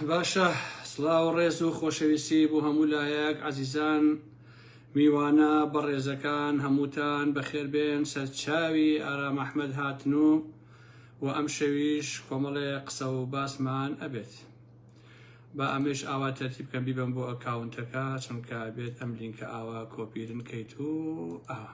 باشە سڵاو ڕێز و خۆشەویستی بۆ هەموو لایەک عزیزان میوانە بەڕێزەکان هەمووتان بەخێربێن سەرچاوی ئارام ئەحمد هاتن و و ئەم شەویش کۆمەڵێ قسە و باسمان ئەبێت با ئەمەش ئاوا تەرتیب کەم بیبم بۆ ئەکاونتەکە چونکە بێت ئەم لینکە ئاوا کۆپیرن کەیت و ئاوا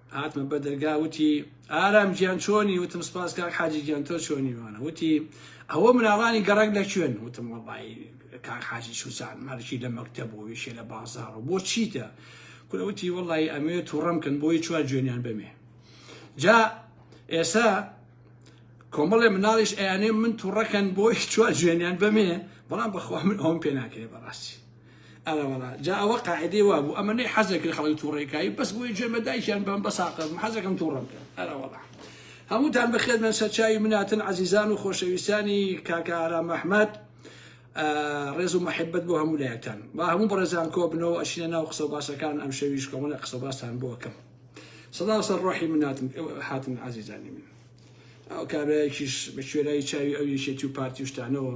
هاتمە بە دەرگا وتی ئارام گیان چۆنی وتم سپاس کاک حاجی گیان تۆ چۆنی وانە وتی ئەوە مناڵانی گەڕک لە کوێن وتم وەڵی کاک حاجی سوزان مەرکی لە مەکتە بۆ ویشێ لە بازار و بۆ چیتە کورەوتی وەڵی ئەمێ تووڕم کەن بۆی چوار جوێنیان بەمێ جا ئێسا کۆمەڵێ مناڵیش ئەیانێ من تووڕەکەن بۆی چوار جوێنیان بەمێ بەڵام بەخوا من ئەوم پێ ناکرێ بەڕاستی ئەرەوەڵا جا ئەوە قاعدەی وابوو ئەمە نەی حەزەکرد خەڵک تووڕێکایی بەس بۆی جوێن بە دایکیان بەم بەساقە حەزەکەم تووڕم کرد ئەرەوەڵا هەمووتان بەخێر بن سەرچاوی مناتن عزیزان و خۆشەویستانی کاکە ئارام ئەحمەد ڕێز و محبت بۆ هەموو لایەکتان با هەموو بەڕێزان کۆ بنەوە ئەشینە ناو قسە باسەکان ئەم شەویش کۆمەڵە قسە باستان بۆکەم سەدا سەر ڕۆحی مناتن حاتن عزیزانی من ئەو کابراایکیش بە کوێرایی چاوی ئەو یەکێتی و پارتی شتانەوە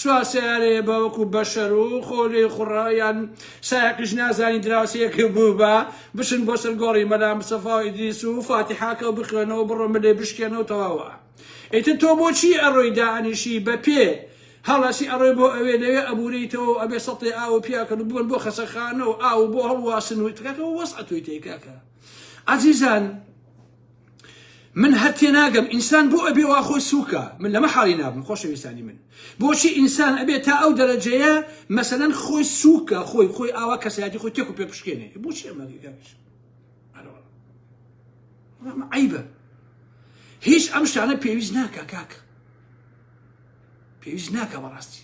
سوار سەیارەیە بە وەکو بەشەر و خۆ لێی خوڕە یان سایەقیش نازانی دراوسێیەکی بووبە بچن بۆ سەر گۆڕی مەلا مستەفا و ئیدریس و فاتیحاکە و بخوێنەوە بڕۆ ملێ بشکێنەوە تەواوە ئیتر تۆ بۆچی ئەڕۆی دانیشی بە پێ هەڵەسی ئەڕۆی بۆ ئەوێ لەوێ ئەبورێیتەوە و ئەبێ سەتێ ئاو و پیاکەن و بوون بۆ خەسەخانە و ئاو بۆ هەڵواسن و تکاکە وەسعەتوی تێکاکە عزیزان من هەر تێناگەم ئینسان بۆ ئەبێ وا خۆی سووکە من لەمە حاڵی نابم خۆشەویستانی من بۆچی ئینسان ئەبێ تا ئەو دەرەجەیە مەسەەن خۆی سووکە خۆی خۆی ئاوا کەسایەتی خۆی تێک و پێ بشکێنێ بۆچی عیبە هیچ ئەم شتانە پێویست ناکە کاکە پێویست ناکە بەڕاستی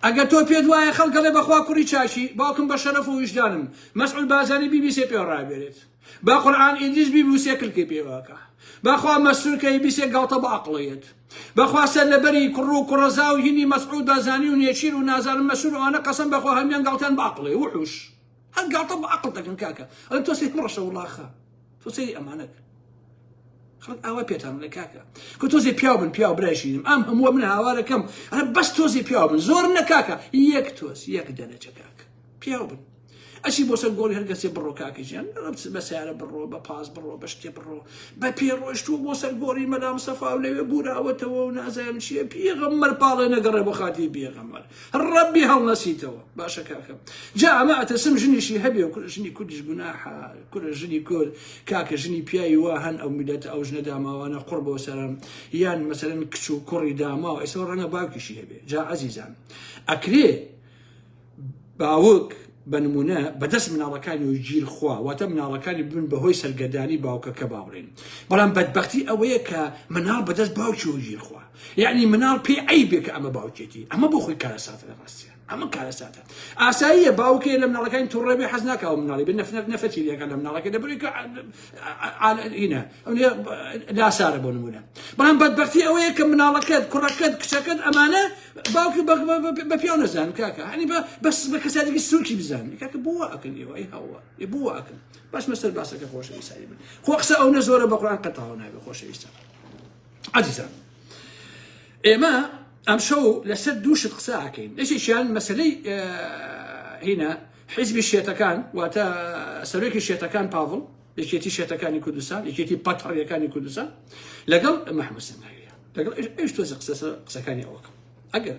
ئەگە تۆ پێت وایە خەڵکەڵێ بەخوا کوڕی چاشی باوکم بە شەرەف و ویژدانم مەسعول بازانی بیبیسێ پێ ڕابێرێت با قورعان ئیدریس بی بوسێ کلکەی پێواکە باخوا مەسرور کە بیسێ گاڵتە بە عقڵەیەت بەخوا سەر لەبەری کوڕ و کوڕەزا و هینی مەسعود بازانی و نێچیر و نازانم مەسرور ئەوانە قەسم بەخوا هەمیان گاڵتیان بە عقڵێ وحوش هەر گاڵتە بە عقڵ دەکەن کاکە ئەڵێ تۆ سێ کوڕەشە وڵاخە تۆ سەیری ئەمانەکە خەڵک ئاوا پێتان لە کاکە کە تۆزێ پیاو بن پیاو برایشینم ئەم هەمووە من هاوارەکەم ئەە بەس تۆزی پیاو بن زۆر نە کاکە یەک تۆز یەک دەنەجە کاکە پیاو بن ئەچی بۆ سەر گۆڕی هەرگەسێ بڕۆ کاکە ژیان بە سیارە بڕۆ بە پاس بڕۆ بە شتێ بڕۆ بە پێ ڕۆشتووە بۆ سەر گۆڕی مەلام سەفا و لەوێ بوراوەتەوە و نازانم چیە پێغەممەر پاڵێ نەگەڕێ بۆ خاتی بێغەمەر ڕەبی هەڵنەسیتەوە باشە کاکەم جا ئەمە ئەتەسم ژنیشی هەبێ و ژنی کوردیش گوناحە کورە ژنی کورد کاکە ژنی پیاوی وا هەن ئەو میلەت ئەو ژنە داماوانە قڕ بۆ سەرم یان مەسەرن کچ و کوڕی داماوە ئێستا ڕەنگە باوکیشی هەبێ جا عزیزان ئەکرێ باوک، بە نموونە، بە دەست مناڵەکانی و گیر خوا، واتە مناڵەکانی ببن بە هۆی سەرگەردانی باوکەکە باوڕین. بەڵام بەدبەختی ئەوەیە کە مناڵ بە دەست باوکیەوە گیر خوا. یەعنی مناڵ پێی عەیبێ کە ئەمە باوکێتی. ئەمە بۆ خۆی کارەساتە لە ڕاستیا. ئەمە کارەساتە. ئاساییە باوکێ لە مناڵەکانی توڕە بێ حەز ناکا و مناڵی بێ نەفرەت نەفرەتی لێ ئەکا لە مناڵەکەی دەبرێ کە ئینە ئەوێ لاسارە بۆ نموونە. بەڵام بەدبەختی ئەوەیە کە مناڵەکەت، کوڕەکەت، کچەکەت ئەمانە باوکم بە بە- بە- بە پیاو نەزانم کاکە هەنی بە بەس بە کەساتێکی سووکی بزانم کاکە بۆ وا ئەکەن ئێوە ئەی هەوە ئێ بۆ وا ئەکەن باش مەسەر باسەکە خۆشەویستانی من خۆ قسە ئەو نە زۆرە بە قورآن قەتاوە نابێ خۆشەویستان عزیزان ئێمە ئەم شەو لەسەر دوو شت قسە ئاکەین یەکێکیان مەسلەی اه، هینە حیزبی شێتەکان واتە سەرۆکی شێتەکان پاڤڵ یەکێتی شێتەکانی کوردستان یەکێتی پەتڕیەکانی کوردستان لەگەڵ محمود سنگاوی لەگەڵ ئێش ئێش تۆزە قسە سەر قسەکانی ئەوەکە ئەگەر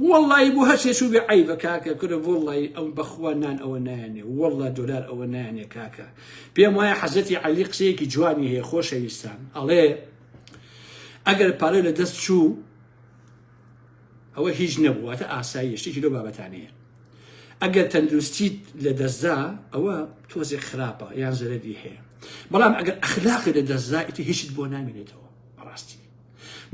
وەڵی بۆ هەرچێ چوو بێ عیبە کاکە کورە وەڵی ئەو بەخوا نان ئەوە نایانێ وەڵا دۆلار ئەوە نایانێ کاکە پێم وایە حەزەتی علی قسەیەکی جوانی هەیە خۆشەویستان ئەڵێ ئەگەر پارەی لە دەست چوو ئەوە هیچ نەبوو واتە ئاساییە شتێکی لەو بابەتانەیە ئەگەر تەندروستیت لە دەستدا ئەوە تۆزێک خراپە یان زەرەری هەیە بەڵام ئەگەر ئەخلاقی لە دەستدا ئیتر هیچت بۆ نامێنێتەوە بەڕاستی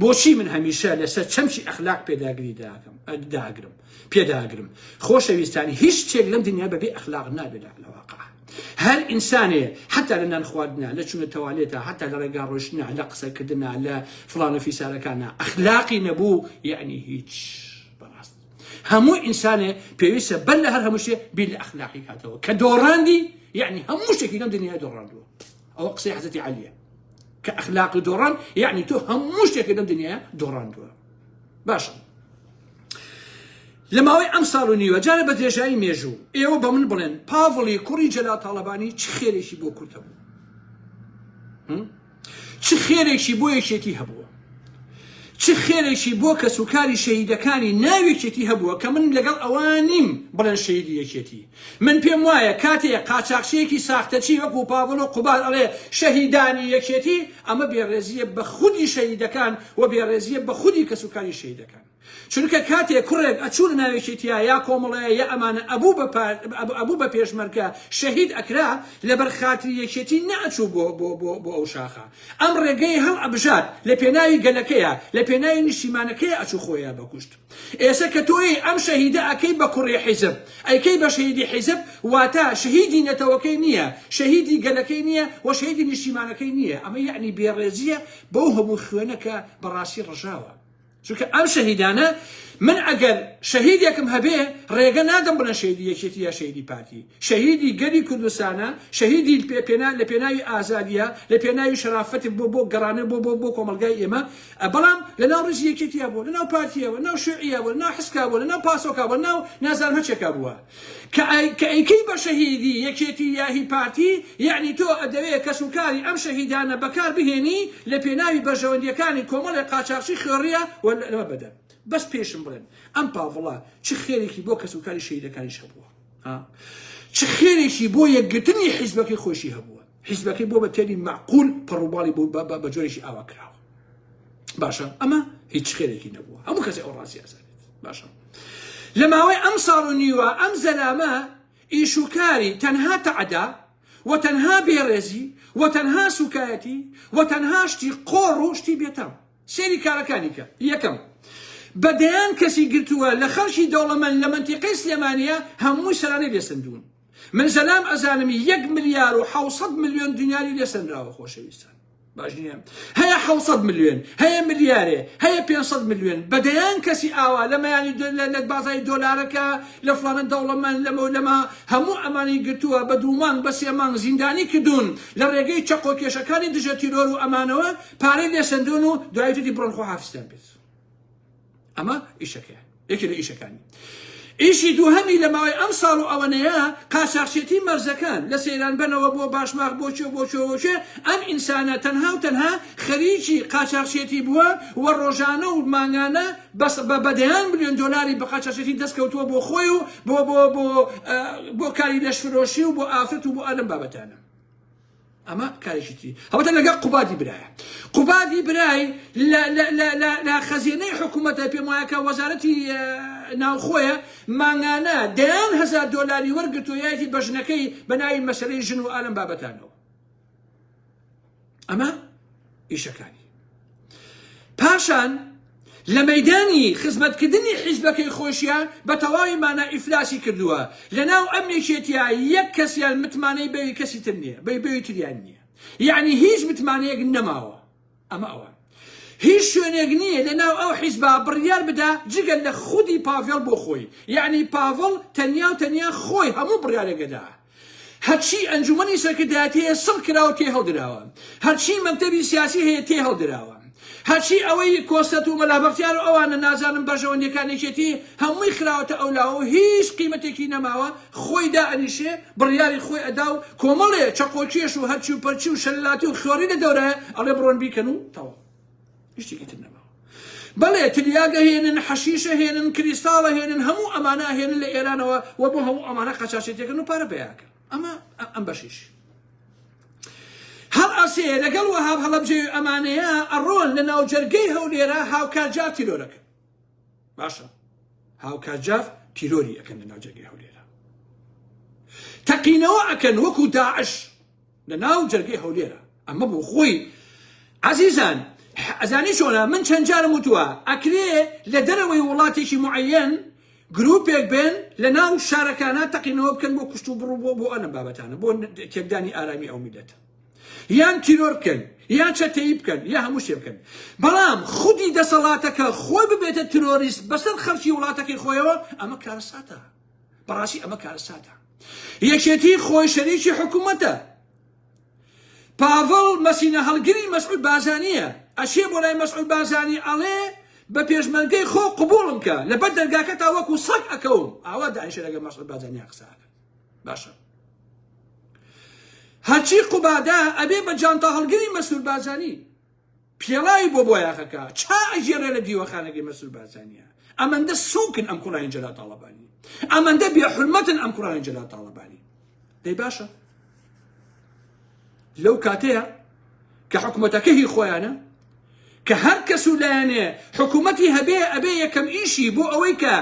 بۆچی من هەمیشە لەسەر چەمچی ئەخلاق پێداگری داکەم داگرم پێداگرم خۆشەویستانی هیچ شتێک لەم دنیا بەبێ ئەخلاق نابێت لە واقع هەر ئینسانێ حەتا لە نان خواردنا لە چونە تەوالێتا حەتا لە ڕێگا ڕۆشتنا لە قسە کردنا لە فڵانە فیسارەکانە ئەخلاقی نەبوو یعنی هیچ بەڕاست هەموو ئینسانێ پێویستە بەر لە هەر هەمووشێ بیر لە ئەخلاقی کاتەوە کە دۆڕاندی یعنی هەموو شتێکی لەم دنیا دۆڕاندووە ئەوە قسەی حەزەتی عالیە کە ئەخلاق دۆڕان یعنی تۆ هەموو شتێکی لەم دنیا دۆڕاندووە باشە لە ماوەی ئەم ساڵ و نیوە جارە بە درێژایی مێژوو ئێوە بە من بڵێن پاڤڵی کوڕی جەلا تاڵەبانی چ خێرێکی بۆ کورتە بوو چ خێرێکی بۆ یەکێتی هەبووە چ خێرێکی بۆ کەس و کاری شەهیدەکانی ناوێکێتی هەبووە کە من لەگەڵ ئەوان نیم بڵێن شەیدی یەکێتی من پێم وایە کاتێ قاچاخچیەکی ساختەچی وەکو پاڤڵ و قوباد ئەڵێ شەهیدانی یەکێتی ئەمە بێڕێزیە بە خودی شەهیدەکان و بێڕێزیە بە خودی کەسوکاری شەهیدەکان چونکە کاتێ کوڕێک ئەچوو لە ناو یەکێتیا یا کۆمەڵەیە یا ئەمانە ئەبوو بە پار ئەبوو بە پێشمەرکە شەهید ئەکرا لەبەر خاتری یەکێتی نەئەچوو بۆ بۆ بۆ بۆ ئەو شاخە ئەم ڕێگەی هەڵ ئەبژارد لە پێناوی گەلەکەیە لە پێناوی نیشتیمانەکەیە ئەچوو خۆیە بەکوشت ئێسە کە تۆیی ئەم شەهیدە ئەکەی بە کوڕی حیزب ئەیکەی بە شەهیدی حیزب واتا شەهیدی نەتەوەکەی نیە شەهیدی گەلەکەی نیە و شەهیدی نیشتیمانەکەی نیە ئەمە یەعنی بێڕێزیە بەو هەموو خوێنە کە بەڕاستی ڕژاوە چونکە ئەم شەهیدانە من ئەگەر شەهیدێکم هەبێ ڕێگە نادەم بڵێن شەهیدی یەکێتی یا شەهیدی پارتی شەهیدی گەلی کوردستانە شەهیدی پێ پێنا لە پێناوی ئازادیە لە پێناوی شەرافەتی بۆ بۆ گەڕانە بۆ بۆ بۆ کۆمەڵگای ئێمە بەڵام لە ناو ڕیزی یەکێتیا بووە، لە ناو پارتیا بووە، لە ناو شوعیە بووە، لە ناو حسکا بووە، لە ناو پاسۆکا بووە، لە ناو نازانم هەرچێکا بووە. کە ئەی کە ئەیکەی بە شەهیدی یەکێتی یا هی پارتی، یەعنی تۆ ئەدەوێ کەس و کاری ئەم شەهیدانە بە کار بهێنی لە پێناوی بەرژەوەندییەکانی کۆمەڵێ قاچاخچی خوێڕیە و لە بەدەن. بەس پێشم بڵێن ئەم پاڤڵە چ خێرێکی بۆ کەس و کاری شەهیدەکانیش هەبووە؟ ها؟ چ خێرێکی بۆ یەکگرتنی حیزبەکەی خۆیشی هەبووە؟ حیزبەکەی بۆ بە تێری مەعقول پەڕوباڵی بۆ بە بە جۆرێکی ئاوا کراوە باشە ئەمە هیچ خێرێکی نەبووە هەموو کەسی ئەو ڕاستی ئەزانێت باشە لە ماوەی ئەم ساڵ و نیوە ئەم زەلامە ئیشوکاری تەنها تەعدا و تەنها بێڕێزی و تەنها سوکایەتی و تەنها شتی قۆڕ و شتی بێتام سێری کارەکانی کە یەکەم بە دەیان کەسی گرتووە لە خەڵکی دەوڵەمەند لە منتیقەی سلێمانە هەمووی سەرانەی لێسندوون من زەلام ئەزانم یەک ملیار و حوسەد ملیۆن دیناری لێ سەنراوە خۆشەویستان باش نییە هەیە حوسەد ملیۆن هەیە ملیارێ هەیە 500 ملیۆن بەدەیان کەسی ئاوا لە مەیانی لە بازای دۆلارەکە لە فلانە دەوڵەمەند لەمە لەما هەموو ئەمانی گرتووە بە دوومان بە سێمانگ زیندانی کردوون لە ڕێگەی چەقۆ کێشەکانی دژە تیرۆر و ئەمانەوە پارەی لێ سندون و دوایتری بڕۆن خۆ حافستان بێت ئەمە ئیشەکەیە یەکێ لە ئیشەکانی ئیشی دووهەمی لە ماوەی ئەم ساڵ و ئەوەنەیە قاچاخچێتی مەرزەکان لە سەیران بنەوە بۆ باشماغ بۆچێ بۆچۆوەچێ ئەم ئینسانە تەنها و تەنها خەریکی قاچاخچێتی بووە و ڕۆژانە و مانگانە بەس بە بەدەیان بلێن دۆلاری بە قاچاخچێتی دەستکەوتووە بۆ خۆی و بۆ بۆ بۆ بۆ کاری لەشفرۆشی و بۆ ئافرەت و بۆ ئەلم بابەتانە ئەمە کارێکی تری هەڵبەتە لەگەڵ قوبادی برایە قوبادی برای لە خەزێنەی حکوومەتە پێم وایە کە وەزارەتی ناوخۆیە مانگانە دەیان هزار دۆلاری وەرگتو یاکی بە ژنەکەی بە ناوی مەسلەی ژن و ئالم بابەتانەوە ئەمە ئیشەکانی پاشان لە مەدانی خزمەتکردنی حیزبەکەی خۆشیان بە تەواوی مانا ئیفلاسی کردووە لە ناو ئەم یەکێتیا یەک کەسیان متمانەی بەوی کەسی تر نییە بەی بەوی تریان نییە یعنی هیچ متمانەیەک نەماوە ئەمە ئەوە هیچ شوێنێک نییە لە ناو ئەو حیزبا بڕیار بدا جگە لە خودی پاڤێڵ بۆ خۆی یعنی پاڤڵ تەنیا و تەنیا خۆی هەموو بڕیارێکەدا هەرچی ئەنجومەنی سەرکردایەتی هەیە سڕ کراوە تێ هەڵدراوە، هەرچی مەکتەبی سیاسی هەیە تێ هەڵدراوە، هەرچی ئەوەی کۆسرەت و مەلا بەختیار و ئەوانە نازانم بەرژەوەندیەکان یەکێتی هەمووی خراوەتە ئەو لاوە و هیچ قیمەتێکی نەماوە خۆی دائەنیشێ بڕیاری خۆی ئەدا و کۆمەڵێ چەقۆکێش و هەرچی و پەرچی و شەللاتی و خوێڕی لە دەورایە ئەڵێ بڕۆن بیکەن و تەواو. شتێکی تر نەماوە بەڵێ تلیاگە هێنن حەشیشە هێنن کریستاڵە هێنن هەموو ئەمانە هێنن لە ئێرانەوە و بۆ هەموو ئەمانە قەچاشێتێکن و پارە بەیاکە ئەمە ئەم بەشیش هەڵ ئەسێ لەگەڵ وەهاب هەڵەبجێ ئەمانەیە ئەڕۆن لە ناوجەرگەی هەولێرە هاوکارجار تیرۆرەکە باشە هاوکارجاف تیرۆری ئەەکەن لە ناوجەرگەی هەولێرە تەقینەوە ئەکەن وەکو داعش لە ناو جەرگەی هەولێرە ئەمە بۆ خۆی عەزیزان ئەزانی چۆنە من چەند جارم وتووە ئەکرێ لە دەرەوەی وڵاتێکی معەن گروپێک بێن لە ناو شارەکانە تەقینەوە بکەن بۆ کوشت و بڕ بۆ بۆ ئەنە بابەتانە بۆ تێکدانی ئارامی ئەو میلەتە یان تیرۆر بکەن یان چەتەیی بکەن یا هەموو شتێ بکەن بەڵام خودی دەسەڵاتەکە خۆی ببێتە ترۆریست بەسەر خەڵکی وڵاتەکەی خۆیەوە ئەمە کارەساتە بەڕاستی ئەمە کارەساتە یەکێتی خۆی شەریکی حکوومەتە پاڤڵ مەسینە هەڵگری مەسعود بازانیە ئەشێ بۆ لای مەسعود بازانی ئەڵێ بە پێشمەرگەی خۆ قوبوڵم کە لەبەر دەرگاکە تا وەکو سەگ ئەکەوم ئاوا داعشە لەگە مەسعود بازانیا قساکە باشە هەرچی قوبادا ئەبێ بە جانتا هەڵگری مەسعود بازانی پێڵاوی بۆ بۆیاخەکە چا ئەگێڕێ لە دیوەخانەکەی مەسرور بارزانیە ئەمەندە سوکن ئەم کوڕانی جەلال تاڵەبانی ئەمەندە بێ حرمەتن ئەم کوڕانی جەلال تاڵەبانی دەی باشە لەو کاتەیە کە حکوومەتەکە هی خۆیانە کە هەر کەس و لایەنێ حکوومەتی هەبێ ئەبێ یەکەم ئیشی بۆ ئەوەی کە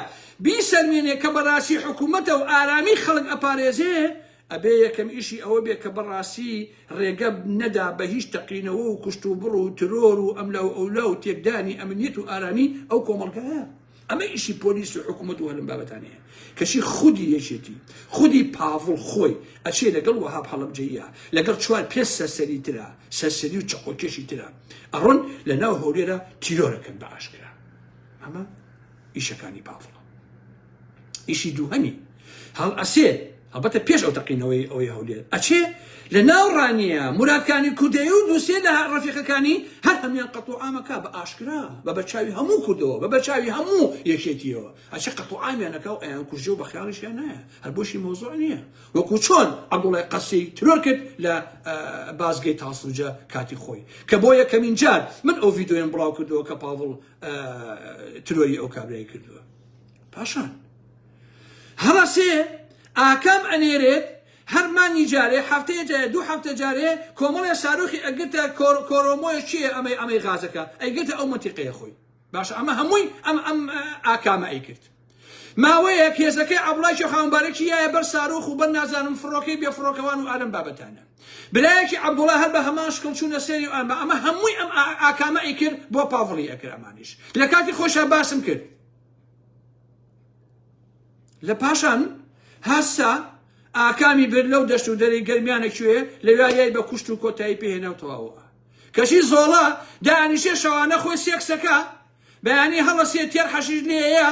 بیسەلمێنێ کە بەڕاستی حکوومەتە و ئارامی خەڵک ئەپارێزێ ئەبێ یەکەم ئیشی ئەوە بێ کە بەڕاستی ڕێگە نەدا بە هیچ تەقینەوە و کوشتوبڕ و ترۆر و ئەملا و ئەولا و تێکدانی ئەمنیەت و ئارامی ئەو کۆمەڵگایە. ئەمە ئیشی پۆلیس و حکومەت و هەلم بابەتانەیە. کەچی خودی یەکێتی، خودی پاڤڵ خۆی ئەچێ لەگەڵ وەهاب هەڵەبجەییا، لەگەڵ چوار پێنج سەرسەری ترا، سەرسەری و چەقۆکێشی ترا، ئەڕۆن لە ناو هەولێرا تیرۆر ئەکەن بە ئاشکرا. ئەمە ئیشەکانی پاڤڵە. ئیشی دووهەمی هەڵئەسێ هەڵبەتە پێش ئەو تەقینەوەی ئەوەی هەولێر ئەچێ لە ناو ڕانیە مرادکانی کوردەیە و دووسێ لە ڕەفیقەکانی هەر هەمیان قەتڵ ئامەکە بە ئاشکرا بە بەرچاوی هەموو کوردەوە بە بەرچاوی هەموو یەکێتیەوە ئەچێ قەتڵ ئامیانەکە و ئەیان کوژێ و بە خیاڵیشیان نایە هەر بۆشی مۆزۆع نییە وەکو چۆن عەبدوڵای قەسی ترۆر کرد لە بازگەی تاسوجە کاتی خۆی کە بۆ یەکەمین جار من ئەو ڤیددیویم بڵاو کردەوە کە پاڤڵ ترۆری ئەو کابرای کردووە پاشان هەڵەسێ ئاکام ئەنێرێت هەر مانگی جارێ هەفتەیە جارێ دوو هەفتە جارێ کۆمەڵێ ساروخی ئەگرتە کۆرۆمۆیە چیە ئەمەی ئەمەی غازەکە ئەیگرتە ئەو منتیقەیە خۆی باشە ئەمە هەمووی ئەم ئەم ئاکامە ئەیکرد ماوەیە کێزەکەی عبڵای شەخانبارەکی یایە بەر ساروخ و بەر نازانم فڕۆکەی بێ فڕۆکەوان و ئالم بابەتانە برایەکی عەبدوڵا هەر بە هەمان شکڵ چوونە سەری و ئەمە ئەمە هەمووی ئەم ئاکامە ئەیکرد بۆ پاڤڵی ئەکرد ئەمانیش لە کاتی خۆشە باسم کرد لە پاشان هەستا ئاکامی بر لەو دەشت و دەری گەرمیانە کوێ لە وایای بە کوشت و کۆتایی پێهێناوتەواوە کەچی زۆڵە دانیشێ شەوانە خۆی سێکسەکە بەیانی هەڵەسێ تێر حەشیش لێیە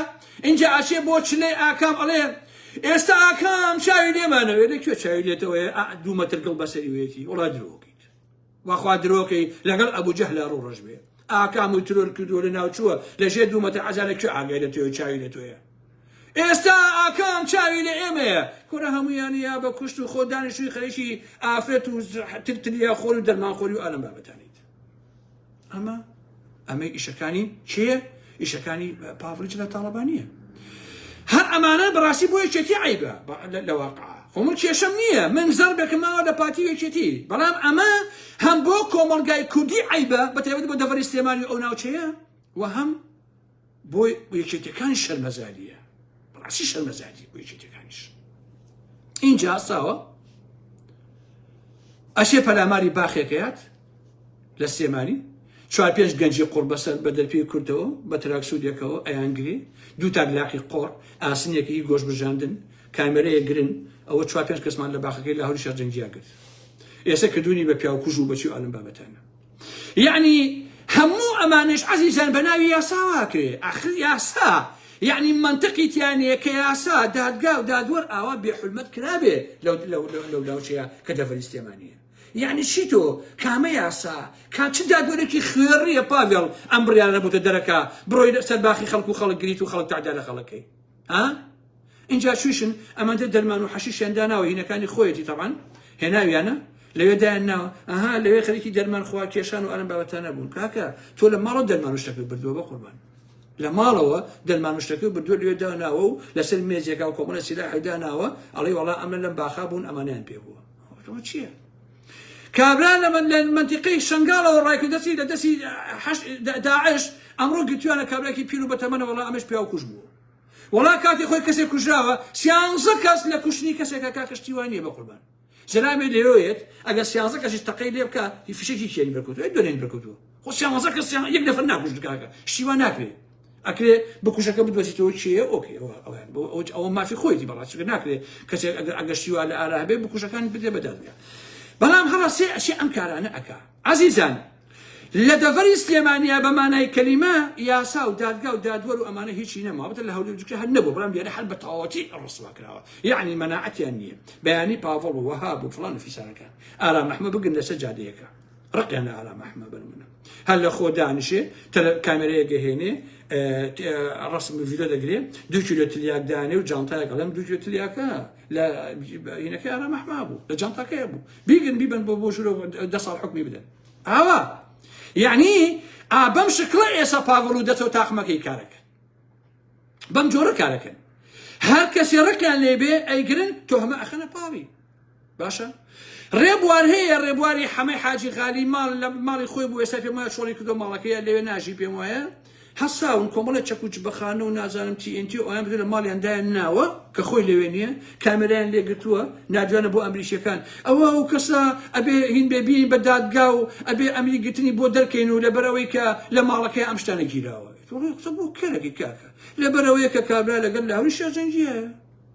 ئینجا ئەچێ بۆ چلەی ئاکام ئەڵێ ئێستا ئاکام چاوی لێمانەوێ لە کوێ چاوی لێتەوەیە دوو مەتر گڵ بەسەری وێتی وڵا درۆکەیت وەخوا درۆکەی لەگەڵ ئەبوو جەه لە ڕوو ڕژ بێ ئاکام و ترۆر کردووە لە ناوچووە لەژێ دوو مەتر عەزا لە کوێ ئاگای لە تۆێ چاوی لە تۆیە ئێستا ئاکام چاوی لە ئێمەیە کورە هەمویان یا بە کوشت و خۆ دانیشتوی خەریکی ئافرەت و ترتلیا خۆر و دەرمان خۆری و ئالم بابەتانیت ئەمە ئەمەی ئیشەکانی کێ ئیشەکانی پاڤلیچ لە تاڵەبانیە هەر ئەمانە بەڕاستی بۆ یەکێتی عیبە لە واقع خۆمن کێشەم نییە من زەر بەکەماوە لە پارتی یەکێتی بەڵام ئەمە هەم بۆ کۆمەلگای کوردی عیبە بەتەوت بۆ دەڤری سلێمانی ئەو ناوچەیە و هەم بۆ یەکێتەکانی شەرمەزاریە بەڕاستی شەرمەزاری بۆ یەکێتەکانیش اینجا ساوە ئەشێ پەلاماری باخێکەیات لە سێمانی چوار پێنج گەنجی قڕ بەسەر بە دەرپی کردەوە بە تراکسودێکەوە ئەیانگری دوو تاک لاقی قۆڕ ئاسنێکی گۆش بژاندن کامێرەیە گرن ئەوە چوار پێنج کەسمان لە باخەکەی لاهوری شەرجەنگیان کرد ئێستا کردوونی بە پیاوکوژ و بەچی ئالم بابەتانە یەعنی هەموو ئەمانەش عەزیزان بە ناوی یاساوا کرێ ئاخر یاسا یەعنی مەنتقی تیانەیە کە یاسا دادگا و دادوەر ئاوا بێحلمەت کرابێ لەو لاوچەیە کە دەڤەری سلێمانیە یعنی چی تۆ کامە یاسا کا چ دادوەرێکی خوێڕیە پاڤێڵ ئەم بڕیارە بۆتە دەرەکە بڕۆی سەر باخی خەڵک و خەڵک گریت و خەڵک تعدا لە خەڵەکەی ها ئینجا چویشن ئەمەندە دەرمان و حەشیشیان داناوە هینەکانی خۆیەتی تەبان هێناویانە لەوێ دایان ناوە ئەها لەوێ خەرکی دەرمان خوا کێشان و ئەرم بابەتانە بوون کاکە تۆ لە ماڵە دەرمان و شتەکە بردووە بە قوربان لە ماڵەوە دەرمانشتەکە بردووە لێ داناوە و لەسەر مێزێکا و کۆمەڵە سیلاحی داناوە ئەڵێ وڵا ئەمە لەم باخا بوون ئەمانیان پێ بووە چییە؟ کابرا لە مەنتیقەی شەنگاڵەوە ڕایکردەچی لە دەستی داعش ئەمڕۆ گرتویانە کابرایکی پیر و بەتەمەنە وەڵا ئەمەش پیاو کوش بوو وەڵا کاتی خۆی کەسێک کوژراوە سیانزە کەس لە کوشتنی کەسێکە کا کەشتی وای نییە بە قوربان جەنابێ لێوێت ئەگەر سیانزە کەسیش تەقەی لێ بکە هی فشێکی کێری بەرکوتوە دونێن بەرکوتوە خۆ سیانزە کە سیان یەک نەفر ناکوش دکاکە شتیوا ناکرێت ئەکرێ بکوشەکە بدۆزیتەوە چێە ئۆکێ ئەویان بۆ ئەو ئەوە مافی خۆیتی بەڕاستگە ناکرێت کەسێک ئەگەر ئەگەشتیوا لە ئارا هەبێ بکوشەکان بدێ بەدادگە بەڵام هەڵەسێ ئەشێ ئەم کارانە ئەک عزیزان لە دەڤری سلێمانیا بە مانای کەلیمە یاسا و دادگا و دادوەر و ئەمانە هیچی نەماوەتە لە هەولێر جوکە هەر نەبوو بەڵام دیارە هەر بە تەواوەتی ڕسوا کراوە یعنی مەناعەتیان نییە بەیانی پاڤڵ و وەهاب و فڵان و فیسارەکان ئارا مەحمە بگن لەسەر جادەیەەکە ڕقیان لە ئارام ئەحمە بەرمونە هەر لە خۆ دانیشێ کامێرەیە گەهێنێ ڕسم ڤیدۆ دەگرێ دو کیلۆ تلیاک دانێ و جانتایە گەڵم دو کیلۆ تلیاکە لە هینەکە ئارام ئەحما بوو لە جانتاکەیە بوو بیگن بیبن بۆ بۆ ژورۆ دە ساڵ حکمی بدەن ئاوا یعنی ئابەم شکڵە ئێسا پاگڵ و دەچەوە تاقمەکەی کارەکە بەم جۆرە کارەکەن هەر کەسی ڕکیان لێبێ ئەیگرن تۆ هەمە ئەخەنە پاوی باشە ڕێبوار هەیە ڕێبواری حەمەی حاجی غالی ماڵ لە ماڵی خۆی بوو ئێستا پێم وایە چۆڵی کردو ماڵەکەیە لەوێ ناژی پێم وایە هەساون کۆمەڵی چەکوچ بەخانە و نازانم TNT و ئەویان بدە لە ماڵیان دایان ناوە کە خۆی لەوێ نییە کامێرایان لێگرتووە نادوانە بۆ ئەمریکیەکان ئەوە ئەو کەسە ئەبێ هین بێبیین بە دادگا و ئەبێ ئەمری گرتنی بۆ دەرکەین و لەبەرەوەی کە لە ماڵەکەی ئەم شتانە گیراوە قسە بۆ کەرەکەی کاکە لەبەرەوەیە کە کابرا لەگەر لە هەوری شێرجەنگیە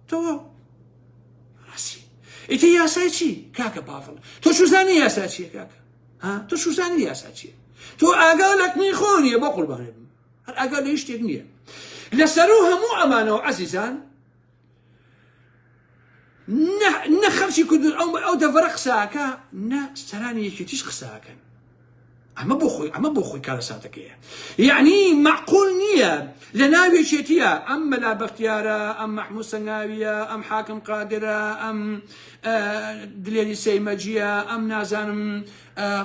تەواو ڕاسی ئیتر یاسای چی کاکە پاڤڵ تۆ چوزانی یاسا چیە کاکە ها تۆ چوزانی یاسا چیە تۆ ئاگا لە کنی خۆ نیە بە قوربانێ بم هەر ئاگا لە هیشتێک نییە لەسەر و هەموو ئەمانەوە عزیزان نە خەرچی کوردن ئەو ئەو دەڤەرە قساکە نە سەرانی یەکێتیش قساکەن ئەمە بۆ خۆی ئەمە بۆ خۆی کارەساتەکەیە یعنی معقول نییە لە ناوێکێتیە ئەم مەلا بەختیارە ئەم مەحموو سەنگاویە ئەم حاکم قادرە ئەم دلێری سەیمەجیە ئەم نازانم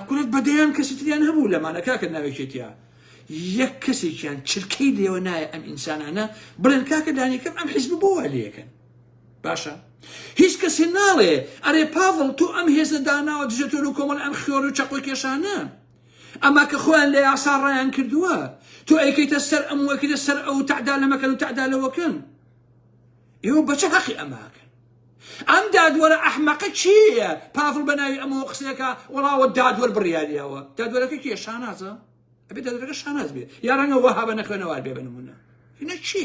کورت بەدەیان کەسی تریان هەبوو لەمانە کاکە ناوێکێتیە یەک کەسێکیان چرکەی لێوە نایە ئەم ئینسانانە بڵێن کاکە دانیکەم ئەم حیزب بۆ لەکەن باشە هیچ کەسێ ناڵێ ئەرێ پاڤڵ تۆ ئەم هێزە داناوە دژە تۆ لە کۆمەڵ ئەم خیۆر و چەقۆ کێشانە ئەما کە خۆیان لە یاسا ڕایان کردووە تۆ ئەیکەیتە سەر ئەم وەکرە سەر ئەو تەعدا لەمەکەن و تەعدا لەوەکەن ئێوە بەچە هەقی ئەماکەن ئەم دادوەرە ئەحمەقە چییە پاڤڵ بە ناوی ئەمەوە قسەکە وەڵاوە دادوەر بڕیاریەوە دادوەرەکە کێشانازە ئەبێ دادوەرەکە شاناز بێ یا ڕەنگە وەها بە نەخوێنەوار بێ بە نمونە هینە چی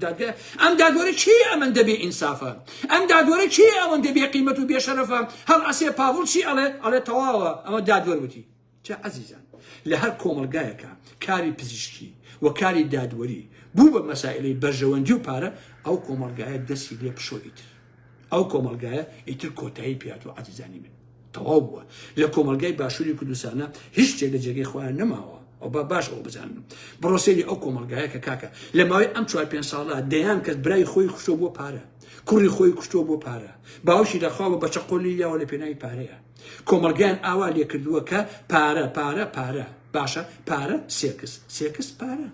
دادگە ئەم دادوەرە چی ئەمەن دەبێ ئینسافە ئەم دادوەرە چی ئەوەن دەبێ قیمەت و بێشەرەفە هەڵ ئەسێ پاڤڵ چی ئەڵێ ئەڵێ تەواوە ئەمە دادوەر وتی چە عزیزان لە هەر کۆمەلگایەکە کاری پزیشکی و کاری دادوەری بوو بە مەسائلەی بەرژەوەندی و پارە ئەو کۆمەلگایە دەسی لێ پشۆیتر ئەو کۆمەڵگایە ئیتر کۆتایی پیاتوە عزیزانی من تەواو بووە لە کۆمەلگای باشووری کوردستانە هیچ شتێک لە جێگەی خۆیان نەماوە ئەو با باش ئەو بزانن بڕۆسێری ئەو کۆمەلگایە کە کاکە لە ماوەی ئەم چوار پێنج ساڵە دەیان کەس برای خۆی خوشتۆ بۆ پارە کوڕی خۆی کوشتۆ بۆ پارە باوشی لەخوا بە بەچەقۆلی یاوە لە پێناوی پارەیە کۆمەلگەیان ئاوا لێ کردووە کە پارە پارە پارە باشە پارە سێکس سێکس پارە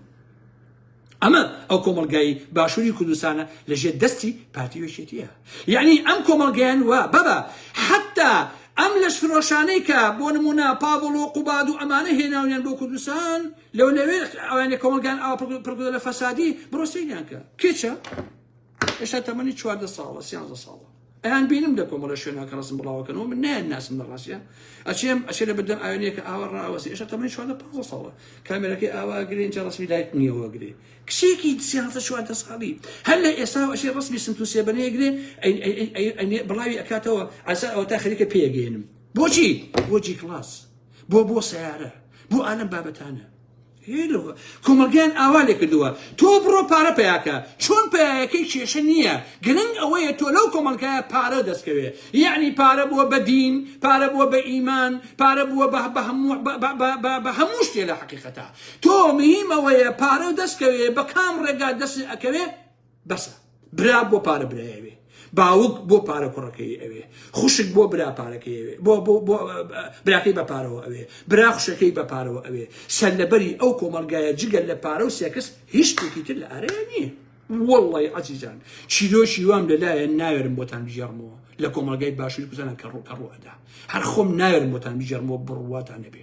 ئەمە ئەو کۆمەڵگای باشووری کوردستانە لە ژێر دەستی پارتی وێشێتیە یعنی ئەم کۆمەڵگەیان وە بەبە حتا ئەم لەش فرۆشانەی کە بۆ نمونە پاڤڵ و قوباد و ئەمانە هێناونیان بۆ کوردستان لەو لەوێ ئەوانێ کۆمەڵگان ئاوا پڕگدە لە فەسادی بڕۆ سەیریان کە کێچە ئێستا تەمەنی چواردە ساڵە سیانزە ساڵە ئەیان بینم لە کۆمەڵە شوێنەکە ڕسم بڵاوەکەنەوە من نایان ناسم لە ڕاستە ئەچێم ئەچێ لە بەردەم ئاوێنێکە ئاوە ڕاوەسی ئێشە تەمەنی چواردە پ ساڵە کامێرەکەی ئاوا گرێن جا ڕسمی لایت نیەوە گرێ کچێکی سیانزە چواردە ساڵی هەر لە ئێستا ئەشێ ڕسمی سنت و سێبەنەیە گرێ بڵاوی ئەکاتەوە ئاسا ئەوە تا خەریکە پێگەێنم بۆچی بۆجی کلاس بۆ بۆ سیارە بۆ ئالم بابەتانە هێلۆ کۆمەڵگایان ئاوا لێکردووە تۆ بڕۆ پارە پەیاکە چۆن پەیایەکەی کێشە نییە گرنگ ئەوەیە تۆ لەو کۆمەڵگایە پارە دەستکەوێ یعنی پارە بووە بە دین پارە بووە بە ئیمان پارە بووە بە بە هەموو بە- بە- بە- بە- بە هەموو شتێ لە حەقیقەتە تۆ مهیم ئەوەیە پارە دەستکەوێ بە کام ڕێگا دەست ئەکەوێ بەسە برا بۆ پارە برایەوێ باوک بۆ پارە کوڕەکەی ئەوێ خوشک بۆ برا پارەکەی ئەوێ بۆ بۆ بۆ براکەی بە پارەوە ئەوێ برا خوشەکەی بە پارەوە ئەوێ سەرلەبەری ئەو کۆمەلگایە جگەل لە پارە و سێکس هیچ شتێکی تر لە ئارەیە نییە وڵی عزیزان چیرۆکی وام لەلایەن ناوێرم بۆتان بژێڕمەوە لە کۆمەلگای باشووری کوزانە کە ڕووکە ڕوەدا هەر خۆم ناوێرم بۆتان بژێرمەوە بڕواتان نەبێ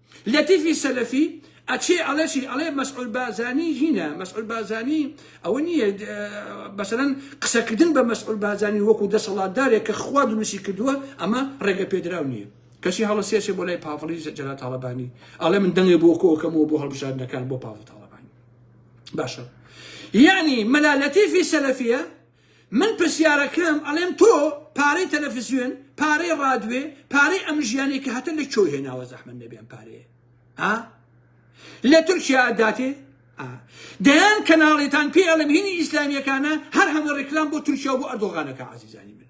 لەتیفی سەلەفی ئەچێ ئەڵێ چی ئەڵێ مەسعود بارزانی هینە مەسعود بارزانی ئەوە نییە بەسەرەن قسەکردن بە مەسعود بارزانی وەکو دەسەڵاتدارێک کە خوا دروستی کردووە ئەمە ڕێگە پێدراو نییە کەچی هەڵە سێچێ بۆ لای پاڤڵی جەلا تاڵەبانی ئەڵێ من دەنگێ بۆ کۆکەمەوە بۆ هەڵبژاردنەکان بۆ پاڤڵ تاڵەبانی باشە یعنی مەلا لەتیفی سەلەفیە من پرسیارەکەم ئەڵێم تۆ پارەی تەلەفزیۆن پارەی ڕادوێ پارەی ئەم ژیانی کە هەتە لە چۆی هێناوە زەحمە نەبێن پارەیە ها لە تورکیا داتێ دەیان کەناڵێتان پێ ئەڵم هینی ئیسلامیەکانە هەر هەموو ڕێکلام بۆ تورکیا بۆ ئەردۆغانەکە عزیزانی من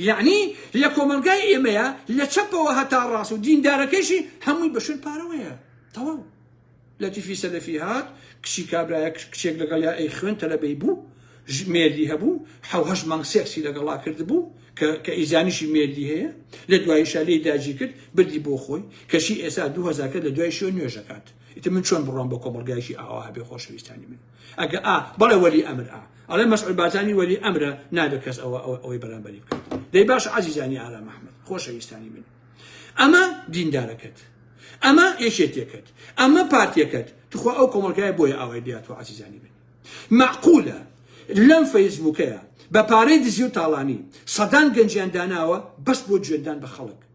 یەعنی لە کۆمەڵگای ئێمەیا لە چەپەوە هەتا ڕاست و دیندارەکەیشی هەمووی بە شوێن پارەوەیە تەواو لەتیفی سەلەفی هات کچی کابرایە کچێک لەگەڵ یا ئەی خوێن تەلەبەی بوو مێردی هەبوو حوهش مانگ سێکسی لەگەڵا کرد بوو کە ئیزانیشی مێردی هەیە لە دوایی شالی داجی کرد بردی بۆ خۆی کەشی ئێسا دوهزارکە لە دوای شوێن نوێژەکات ئیتر من چۆن بڕۆم بە کۆمەلگایشی ئاوا هەبێ خۆشەویستانی من ئەگە ئا بەڵێ وەلی ئەمر ئا ئەڵێ مەسعود بارزانی وەلی ئەمرە نابێت کەس ئەوە ئەوەی بەرامبەری بکات دەی باش عزیزانی ئارام ئەحمد خۆشەویستانی من ئەمە دیندارەکەت ئەمە یەکێتیەکەت ئەمە پارتیەکەت تخوا ئەو کۆمەلگای بۆیە ئاوای دیات و عزیزانی من معقولە لەم فەیسبووکەیە بە پارەی دزی و تاڵانی سەدان گەنجیان داناوە بەس بۆ جوێندان بە خەڵک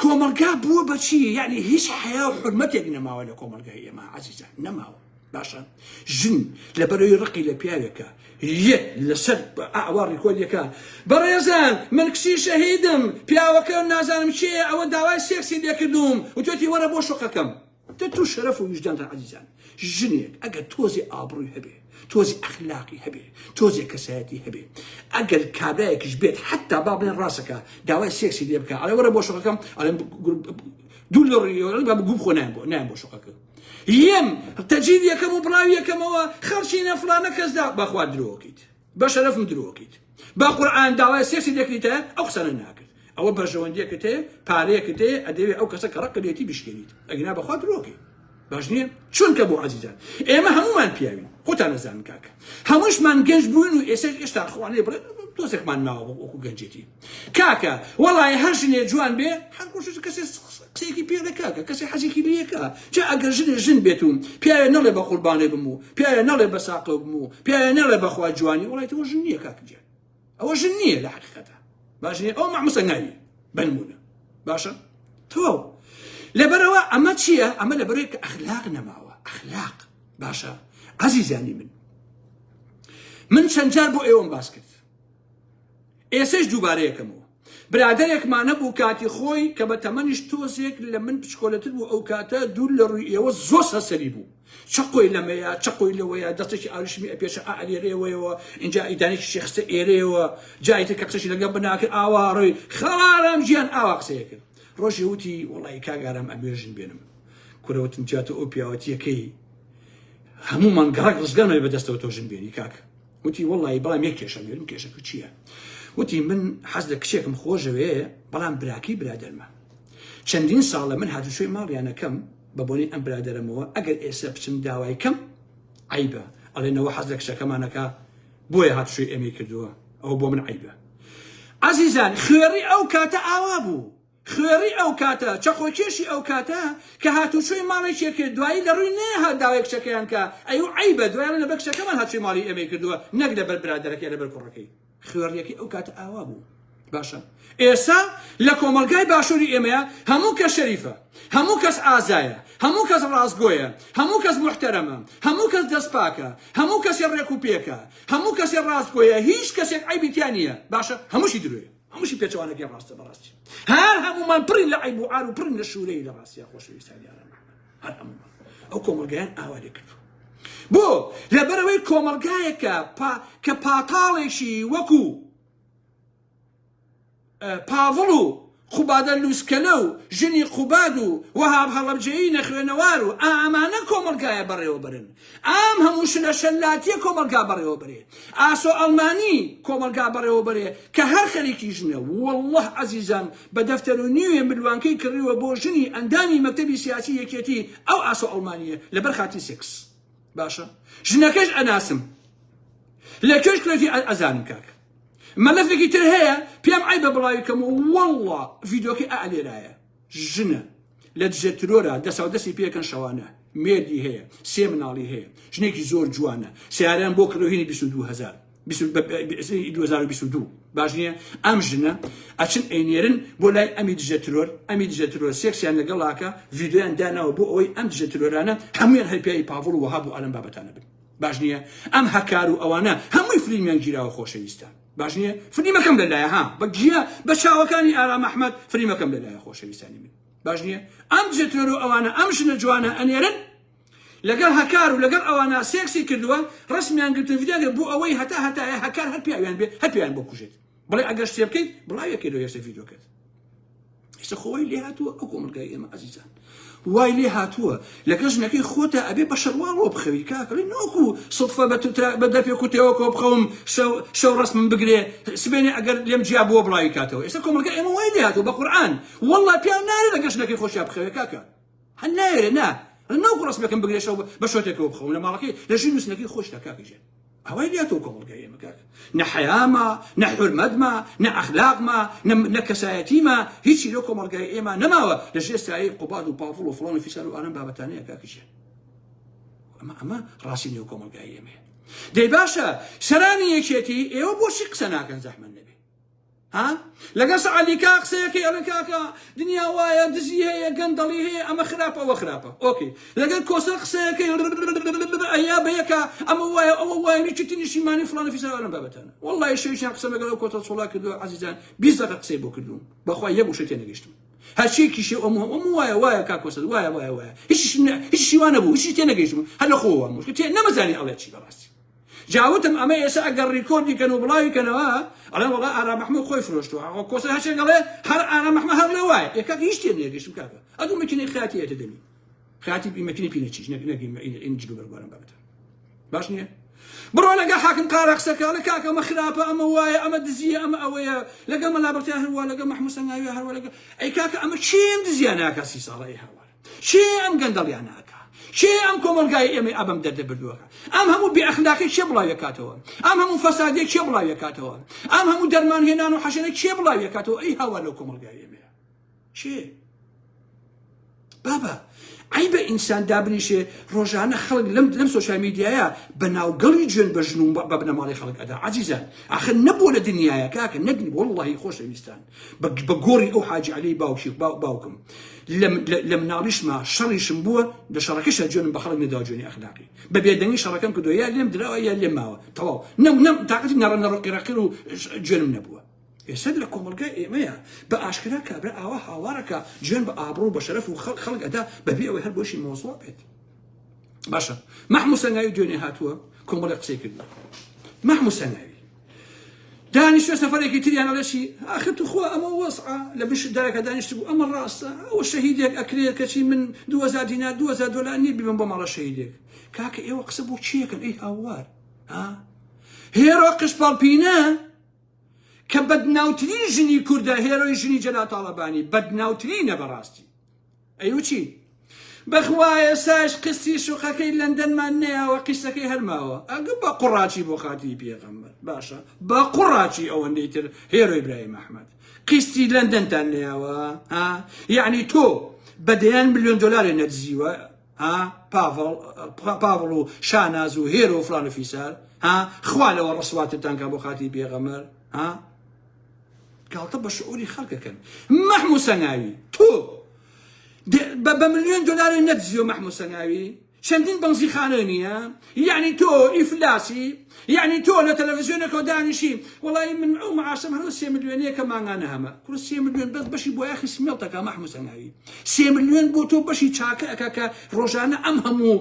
کۆمەڵگا بووە بە چی یعنی هیچ حیا و حرمەتێک نەماوە لە کۆمەلگای ئێمە عزیزان نەماوە باشە ژن لە بەرەوەی ڕقی لە پیاوێکە یە لەسەر ئاوا ڕیکۆلیەکە بەڕێزان من کچی شەهیدم پیاوەکە نازانم چێ ئەوە داوای سێکسی لێکردوم وتێتی وەرە بۆ شوقەکەم دە تۆ شەرەف و ویژدانتان عەزیزان ژنێک ئەگەر تۆزێ ئابڕووی هەبێ تۆزی ئەخلاقی هەبێ تۆزێ کەسایەتی هەبێ ئەگەر کابرایەکیش بێت حتا با بڵێن ڕاستەکە داوای سێکسی لێ بکە ئەڵێ وەرە بۆ شەکەم ئەڵێن دوو لە ڕێوەڵی با گوم خۆ نایان بۆ نایان بۆ شەکە یەم تەجید یەکەم و بڵاوی یەکەمەوە خەڵچینە فلانە کەسدا بەخوا درۆکەیت بە شەرەف و درۆکیت بە قورئان داوای سێکسی دەکریتە ئەو قسانە ناکرد ئەوە بەرژەوەندیەکت هەیە پارەیەکت هەیە ئەدەوێ ئەو کەسە کە ڕقلێتی بشکێنیت ئەگنا بەخوا درۆکەی باش نییە چونکە بۆ عزیزان ئێمە هەمومان پیاوین خۆتان نەزان کاکە هەمووشمان گەنج بوون و ئێستا ئێستا خوانێ بڵێ تۆزێکمان ماوە وەکو گەنجێتی کاکە وەڵای هەر ژنێ جوان بێ هەر گۆشت کەسێ قسەیەکی پێدە کاکە کەسێ حەزێکی لەکە جا ئەگەر ژنێ ژن بێت و پیاوێ نەڵێ بە قوربانێ بم و پیاوێ نەڵێ بە ساقەو بم و پیاوێ نەڵێ بەخوا جوانی وڵی تەوە ژن نییە کاکە جێ ئەوە ژن نییە لە حقیقەتە باشێ ئەو مەمسە ناوی بنمونە باشە تەواو لەبەرەوە ئەمە چییە ئەمە لە بەرێک ئەخلاق نەماوە ئەخلاق باشە عزیزانی من من چەند جار بۆ ئێوەم باس کرد ئێسەش دووبارە یەکەمەوە. برادەرێک مانە بوو کاتی خۆی کە بە تەمەنیش تۆزێک لە من بچکۆلەتر بوو ئەو کاتە دوور لە ڕووی ئێوە زۆر سەرسەری بوو چەقۆی لەمەیە چەقۆی لەوەیە دەستێکی ئاوریشمی ئەپێچە ئا ئەلێرێوەیەوە ئینجا ئیدانێکی شێ خستە ئێرەیەوە جا ئیتر کە قسەشی لەگەڵ بناکرد ئاوا ڕۆی خاڵە ئارام گیان ئاوا قسەیە کرد ڕۆژێ وتی وەڵی کاک ئارام ئەبێ ژن بێنم کورە وتم جا تۆ ئەو پیاوەتیەکەی هەموومان گەڕەک ڕزگارمان بەدەستەوە تۆ ژن بێنی کاک وتی وەڵایی بەڵام یەک کێشەم هەیە، وتم کێشەکە چییە؟ وتی من حەز لە کچێکم خۆشدەوێ بەڵام براکەی برادەرمە چەندین ساڵە من هاتوچۆی ماڵیان ئەکەم بە بۆنەی ئەم برادەرەمەوە ئەگەر ئێستا بچم داوای کەم عەیبە ئەڵێ نەوە حەز لە کچەکەمانەکە بۆیە هاتوچۆی ئێمەی کردووە ئەوە بۆ من عەیبە عەزیزان خوێڕی ئەو کاتە ئاوا بوو خوێڕی ئەوکاتە چەقۆکێشی ئەوکاتە کە هاتوچۆی ماڵێکێ کرد دوایی لەڕوی نەیەهات داوای کچەکەیان کا ئەیو عەیبە دوای ئەڵێ لەبەر کچەکەمان هاتوچۆی ماڵی ئێمەی کردوە نەک لەبەر برادەرەکە یا لەبەر کوڕەکەی خوێڕیەکەی ئەوکاتە ئاوابوو باشە ئێسا لە کۆمەڵگای باشوری ئێمەیە هەموو کە شەریفە هەموو کەس ئازایە هەموو کەس ڕاستگۆیە هەموو کەس محتەرەمە هەموو کەس دەست پاکە هەموو کەسێ ڕێک و پێکە هەموو کەسێ ڕاستگۆیە هیچ کەسێک عەیبی تیا نیە باشە هەمووشی درۆیە هەمووشی پێچەوانە گەر ڕاستە بەڕاستی هەر هەمومان پڕین لە عیب و عار و پڕین لە شوورەی لە ڕاستیا خۆشەویستانی ئارام هەر هەمومان ئەو کۆمەڵگایان ئاوا لێ کردو بۆ لەبەرەوەی کۆمەڵگایەکە کە پاتاڵێکی وەکو پاڤڵ و خوبادە لوسکەلە و ژنی قوباد و وەهاب هەڵەبجەیی نەخوێنەوار و ئامانە کۆمەڵگایە بەڕێوەبرن ئام هەموو شلە شەلاتیە کۆمەڵگا بەڕێوە بەرێ ئاسۆ ئەڵمانی کۆمەڵگا بەڕێوە بەرێ کە هەر خەریکی ژنە واللە عەزیزان بە دەفتەرو نیوێ ملوانکەی کڕیوە بۆ ژنی ئەندامی مەکتەبی سیاسی یەکێتی ئەو ئاسۆ ئەڵمانیە لەبەر خاتری سێکس باشە ژنەکەش ئەناسم لە کوێش کرێتی ئەزانم کاک مەلەفێکی تر هەیە پێم عیبە بڵاوی کەم واللە ڤیدۆکی ئەلێرایە ژنە لە دژە ترۆرا دەساو دەستی پێکەن شەوانە مێردی هەیە سێ مناڵی هەیە ژنێکی زۆر جوانە سیارەیان بۆ کڕۆهینی 22هزار 2022 باش نییە ئەم ژنە ئەچن ئەینێرن بۆ لای ئەمی دژە ترۆر ئەمی دژە ترۆر سێکسیان لەگەڵاکە ڤیددیویان داناوە بۆ ئەوەی ئەم دژە ترۆرانە هەمویان هەرپیایی پاڤڵ وەها بۆ ئالم بابەتانە بن باش نییە ئەم هەکار و ئەوانە هەمووی فلیمیان گیراوە خۆشەویستە باش نیە فلیمەکەم لەلایە ها بە گیە بە چاوەکانی ئارام ئەحمەد فلیمەکەم لەلایە خۆشەویستانی من باش نییە ئەم جێتۆرۆ ئەوانە ئەم ژنە جوانە ئەنێرن لەگەڵ هەکار و لەگەڵ ئەوانە سێکسی کردووە ڕسمیان گرتو ڤیداگە بۆ ئەوەی هەتا هەتایە هەکار هەر پیاویان بێ هەر پیان بۆ کوژێت بڵێ ئەگەر شتێ بکەیت بڵاوێکێ لە یەسە ڤیدۆکەت ئێستا خۆ وای لێ هاتووە ئەو کۆمەلگای ئێمە ئازیزان وای لێ هاتووە لەگە ژنەکەی خۆتە ئەبێ بە شەرواڵەوە بخەوی کاکەڵی نۆکو سڵفە بە بە دەپێ کوتەوە کۆ بخەوم شەو ڕسمم بگرێ سبێنێ ئەگەر لێم جیا بووە بڵاوی کاتەوە ئێستا کۆمەلگای ئێمە وای لێ هاتووە بە قورآن والله پیاو نارێ لەگە ژنەکەی خۆشیا بخەوێ کاکە هەر نایەوێ نا هەر ناوکۆ ڕەسمەکەم بگرێشەوە بە بە شۆتێکەوە بخەوم لە ماڵەکەی لە ژیر نووسنەکەی خۆشدا کاکە ژیان ئەوەی لاتەوە کۆمەڵگای ئێمە کاکە نە حەیاما نە حورمەتما نە ئەخلاقما نە نە کەسایەتیما هیچی لەو کۆمەڵگای ئێمە نەماوە لە ژێر سایەی قوباد و پاڤڵ و فڵان و فیسار و ئەم بابەتانەیە کاکە ژیان ئەمە ئەمە ڕاستی نێو کۆمەڵگای ئێمەیە دەی باشە سەرانی یەکێتی ئێوە بۆچی قسە ناکەن زەحمەت نەبێ ها لەگەڵ سەعدی کاک قسەیە کەی ئەڵێ کاکە دنیا وایە دزی هەیە گەندەڵی هەیە ئەمە خراپە ئەوە خراپە ئۆکەی لەگەڵ کۆسەر قسەیە کەی ڕڕڕ جا وتم ئەمە ئێسە ئەگەر ڕیکۆردی کەن و بڵاوی کەنەوە ئەڵێن وەڵا ئارام محمود خۆی فرۆشتوە ئەوە کۆسە هەرچێک ئەڵێ هەر ئارام محمە هەر لە وایە ئێ کاک هیچ تێ نێگەشتم کاکە ئەدو مەکینەی خیاتی ئێتە دەمی خیاتی بی مەکینەی پینە چیش نەک نەگیم ئین جلو بەرگوارم بابەتە باش نییە بڕۆ لەگە حاکم قارە قسەکە لە کاک ئەمە خراپە ئەمە وایە ئەمە دزیە ئەمە ئەوەیە لەگە مەلا بەتیا هەروە لەگە محموسەنگاوی هەروە لەگە ئەی کاکە ئەمە چێن دزیانە کە سی ساڵە ئەی هەوار کێ ئەم گەندەڵیانە ئەکا؟ کێ ئەم کۆمەڵگای ئێمەی ئابەم دەردە بردووەکە؟ ئەم هەموو بێ ئەخلاقی کێ بڵاویەکاتەوە؟ ئەم هەموو فەسادیە کێ بڵاویەکاتەوە؟ ئەم هەموو دەرمان هێنان و حەشەرە کێ بڵاویەکاتەوە ئەی هاوار لەو کۆمەڵگای ئێمەیە؟ کێ؟ بابە ئەی بە ئینسان دابنیشێ ڕۆژانە خەڵک لەم لەم سوۆشال میدیایە بە ناوگەڵی جوێن بە ژن و بە بنەماڵی خەڵک ئەدا عزیزە ئاخر نەبوو لە دنیاە کاکە نەگری واللهی خۆشەویستان بە گۆڕی ئەو حاجی عەلەی باوکی باوکم لە مناڵیشما شەڕیشم بووە لە شەڕەکەشە جوێنم بە خەڵک نەداوە جوێنی ئەخلاقی بە بێدەنگی شەڕەکەم کردووە یا لێم دراوە یا لێم ماوە تەواو نەم نەم تاقەتی نەڕە نەڕۆقی ڕەقیر و جوێنم نەبووە ئێستا لە کۆمەڵگای ئێمەیە بە ئاشکرا کابرا ئاوا هاوارەکە جوێن بە ئابڕوو بە شەرەف و خەڵک خەڵک ئەدا بەبێ ئەوەی هەر بۆشی مۆزوع بێت باشە مەحموسەنگاوی دوێنێ هاتووە کۆمەڵی قسەی کردووە مەحموسەنگاوی دانیشتە سەفەرێکی تریان ئەڵێ چی ئاخر توخوا ئەمە وەزعە لە بنشت دارەکە دانیشت بوو ئەمە ڕاستە ئەوە شەهیدێک ئەکرێت کەچی من دوهەزار دینار دوهەزار دۆلار نییە بیبم بۆ ماڵە شەهیدێک کاکە ئێوە قسە بۆ چیەکەن ئەی هاوار ها هێرۆ قشپاڵپینە کە بەدناوترین ژنی کوردە هێرۆی ژنی جەلاتاڵەبانی بەدناوترینە بەڕاستی ئەی وچی؟ بەخوا ئێستاش قستی شوقەکەی لەندەنمان نەیاوە قیسەکەی هەر ماوە ئەگە بە قوڕاچی بۆ خاتری پێغەمبەر باشە بە قوڕاچی ئەوەندەی تر هێرۆی برایم ئەحمەد قیستی لەندەنتان نەیاوە ها یعنی تۆ بە دەیان ملیۆن دلارێ نەدزیوە ها پاڤڵ پاڤڵ و شاناز و هێرۆ و فلان و فیسار ها خوا لەوە ڕسواتتان کا بۆ خاتری پێغەمبەر ها گاڵتە بە شعوری خەڵکەکەن مەحموو سەناوی تۆ بە بە ملیۆن دلارێ نەدزیۆ مەحموو سەناوی چەندین بەنزی خانە نییە یعنی تۆ ئیفلاسی یعنی تۆ لە تەلەڤزیۆنەکە دانیشی وڵی من ئەو معاشم هەرو سێ ملیۆنەیە کە مانگانە هەمە کورە سێ ملیۆن بەس بەشی بۆ یاخی سمێڵتەکە مەحموو سەناوی سێ ملیۆن بۆ تۆ بەشی چاکە ئەکا کە ڕۆژانە ئەم هەموو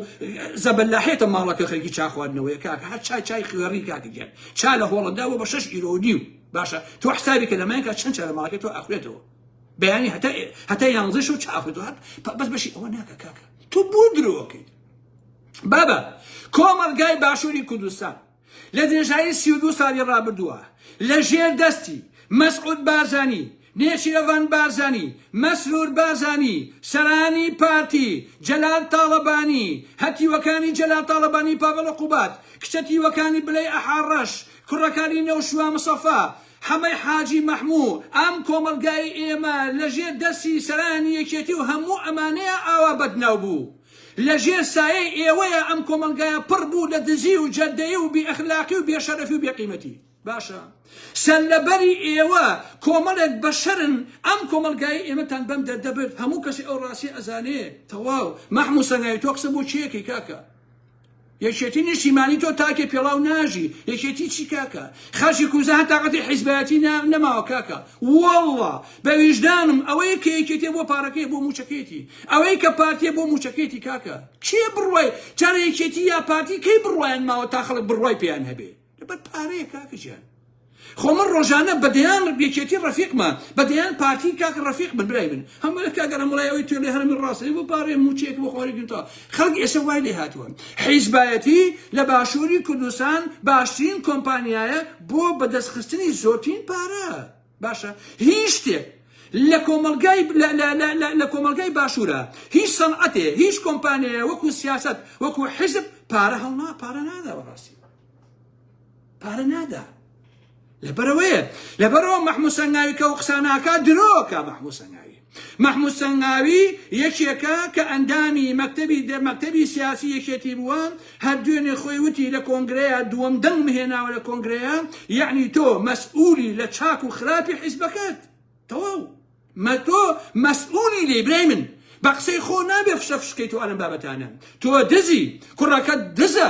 زەبەلاحێتە ماڵەکە خەرکی چاخواردنەوەی کاکە هەر چای چای خوێڕی کاکە گیان چا لە هۆڵەندا بۆ بە شەش ئیرۆ و نیو باشە تۆ حسابی کە لەمایکە چەند چا لە ماڵەکەی تۆ ئەخوێتەوە بەیانی هەتا هەتا یانزە شەو چا ئەخوێتەوە هەر بەس بەشی ئەوە ناکە کاکە تۆ بۆ درۆکەیت بابە کۆمەڵگای باشووری کوردستان لە درێژایی سی و دوو ساڵی ڕابردووە لە ژێر دەستی مەسعود بارزانی نێچیرەڤان بارزانی، مەسرور بارزانی، سەرانی پارتی، جەلال تاڵەبانی، هەتیوەکانی جەلال تاڵەبانی پاڤڵ عقوبات، کچە تیوەکانی بلەی ئەحا ڕەش، کوڕەکانی نەوشوا مصەفا، حەمەی حاجی مەحموو، ئەم کۆمەڵگای ئێمە لە ژێر دەستی سەرانی یەکێتی و هەموو ئەمانەیا ئاوا بەدناو بوو. لە ژێر سایەی ئێوەیا ئەم کۆمەڵگایە پڕ بوو لە دزی و جەردەیی و بێ ئەخلاقی و بێ شەرەفی و بێ قیمەتی. باشە سەرلەبەری ئێوە کۆمەڵێک بەشەرن ئەم کۆمەڵگای ئێمەتان بەم دەردەبرد هەموو کەسی ئەو ڕاستی ئەزانێ تەواو مەحموو سەنگاوی تۆ قسە بۆ چیەکەی کاکە یەکێتی نیشتیمانی تۆ تاکێ پێڵاو ناژی یەکێتی چی کاکە خەرشی کوزە هە تااقەتی حیزبایەتی نەماوە کاکە وەڵڵا بە ویژدانم ئەوەیە کە یەکێتێ بۆ پارەکەی بۆ موچەکەیتی ئەوەی کە پارتێ بۆ موچەکەیتی کاکە کێ بڕوای چارە یەکێتی یا پارتی کەی بڕوایان ماوە تا خەڵک بڕوای پێیان هەبێ لەبەر پارەیە کاکە جیان خۆ من ڕۆژانە بەدەیان یەکێتی ڕەفیقمە بەدەیان پارتی کاک ڕەفیق بن برای من هەموو کاگەرم وڵای ئەوەی توێ لێ هەرمی ڕاستەی بۆ پارێ موچێک بۆ خۆری گوتا خەڵک ئێستا وای لێ هاتووە حیزبایەتی لە باشووری کوردستان باشترین کۆمپانیایە بۆ بەدەستخستنی زۆرترین پارە باشە هیچ شتێک لە کۆمەڵگای لە لە لە لە لە کۆمەڵگای باشوورە هیچ سەنعەتێ هیچ کۆمپانیایە وەکو سیاست وەکو حزب پارە هەڵنا پارە نادا بەڕاستی پارە نادا لەبەرەوەیە لەبەرەوە مەحموو سەنگاوی کە و قساناکە درۆکە مەحموو سەنگاوی مەحمود سەنگاوی یەکێکە کە ئەندامی مەکتەبی دە مەکتەبی سیاسی یەکێتی بووە هەر دوێنێ خۆی وتی لە کۆنگرەیا دووەم دەنگم هێناوە لە کۆنگرەیا یەعنی تۆ مەسئولی لە چاک و خراپی حیزبەکەت تەواو مە تۆ مەسئولی لێی برای من بە قسەی خۆ نابێ فشە فشکەی تۆ ئەلەم بابەتانە تۆ دزی کوڕەکەت دزە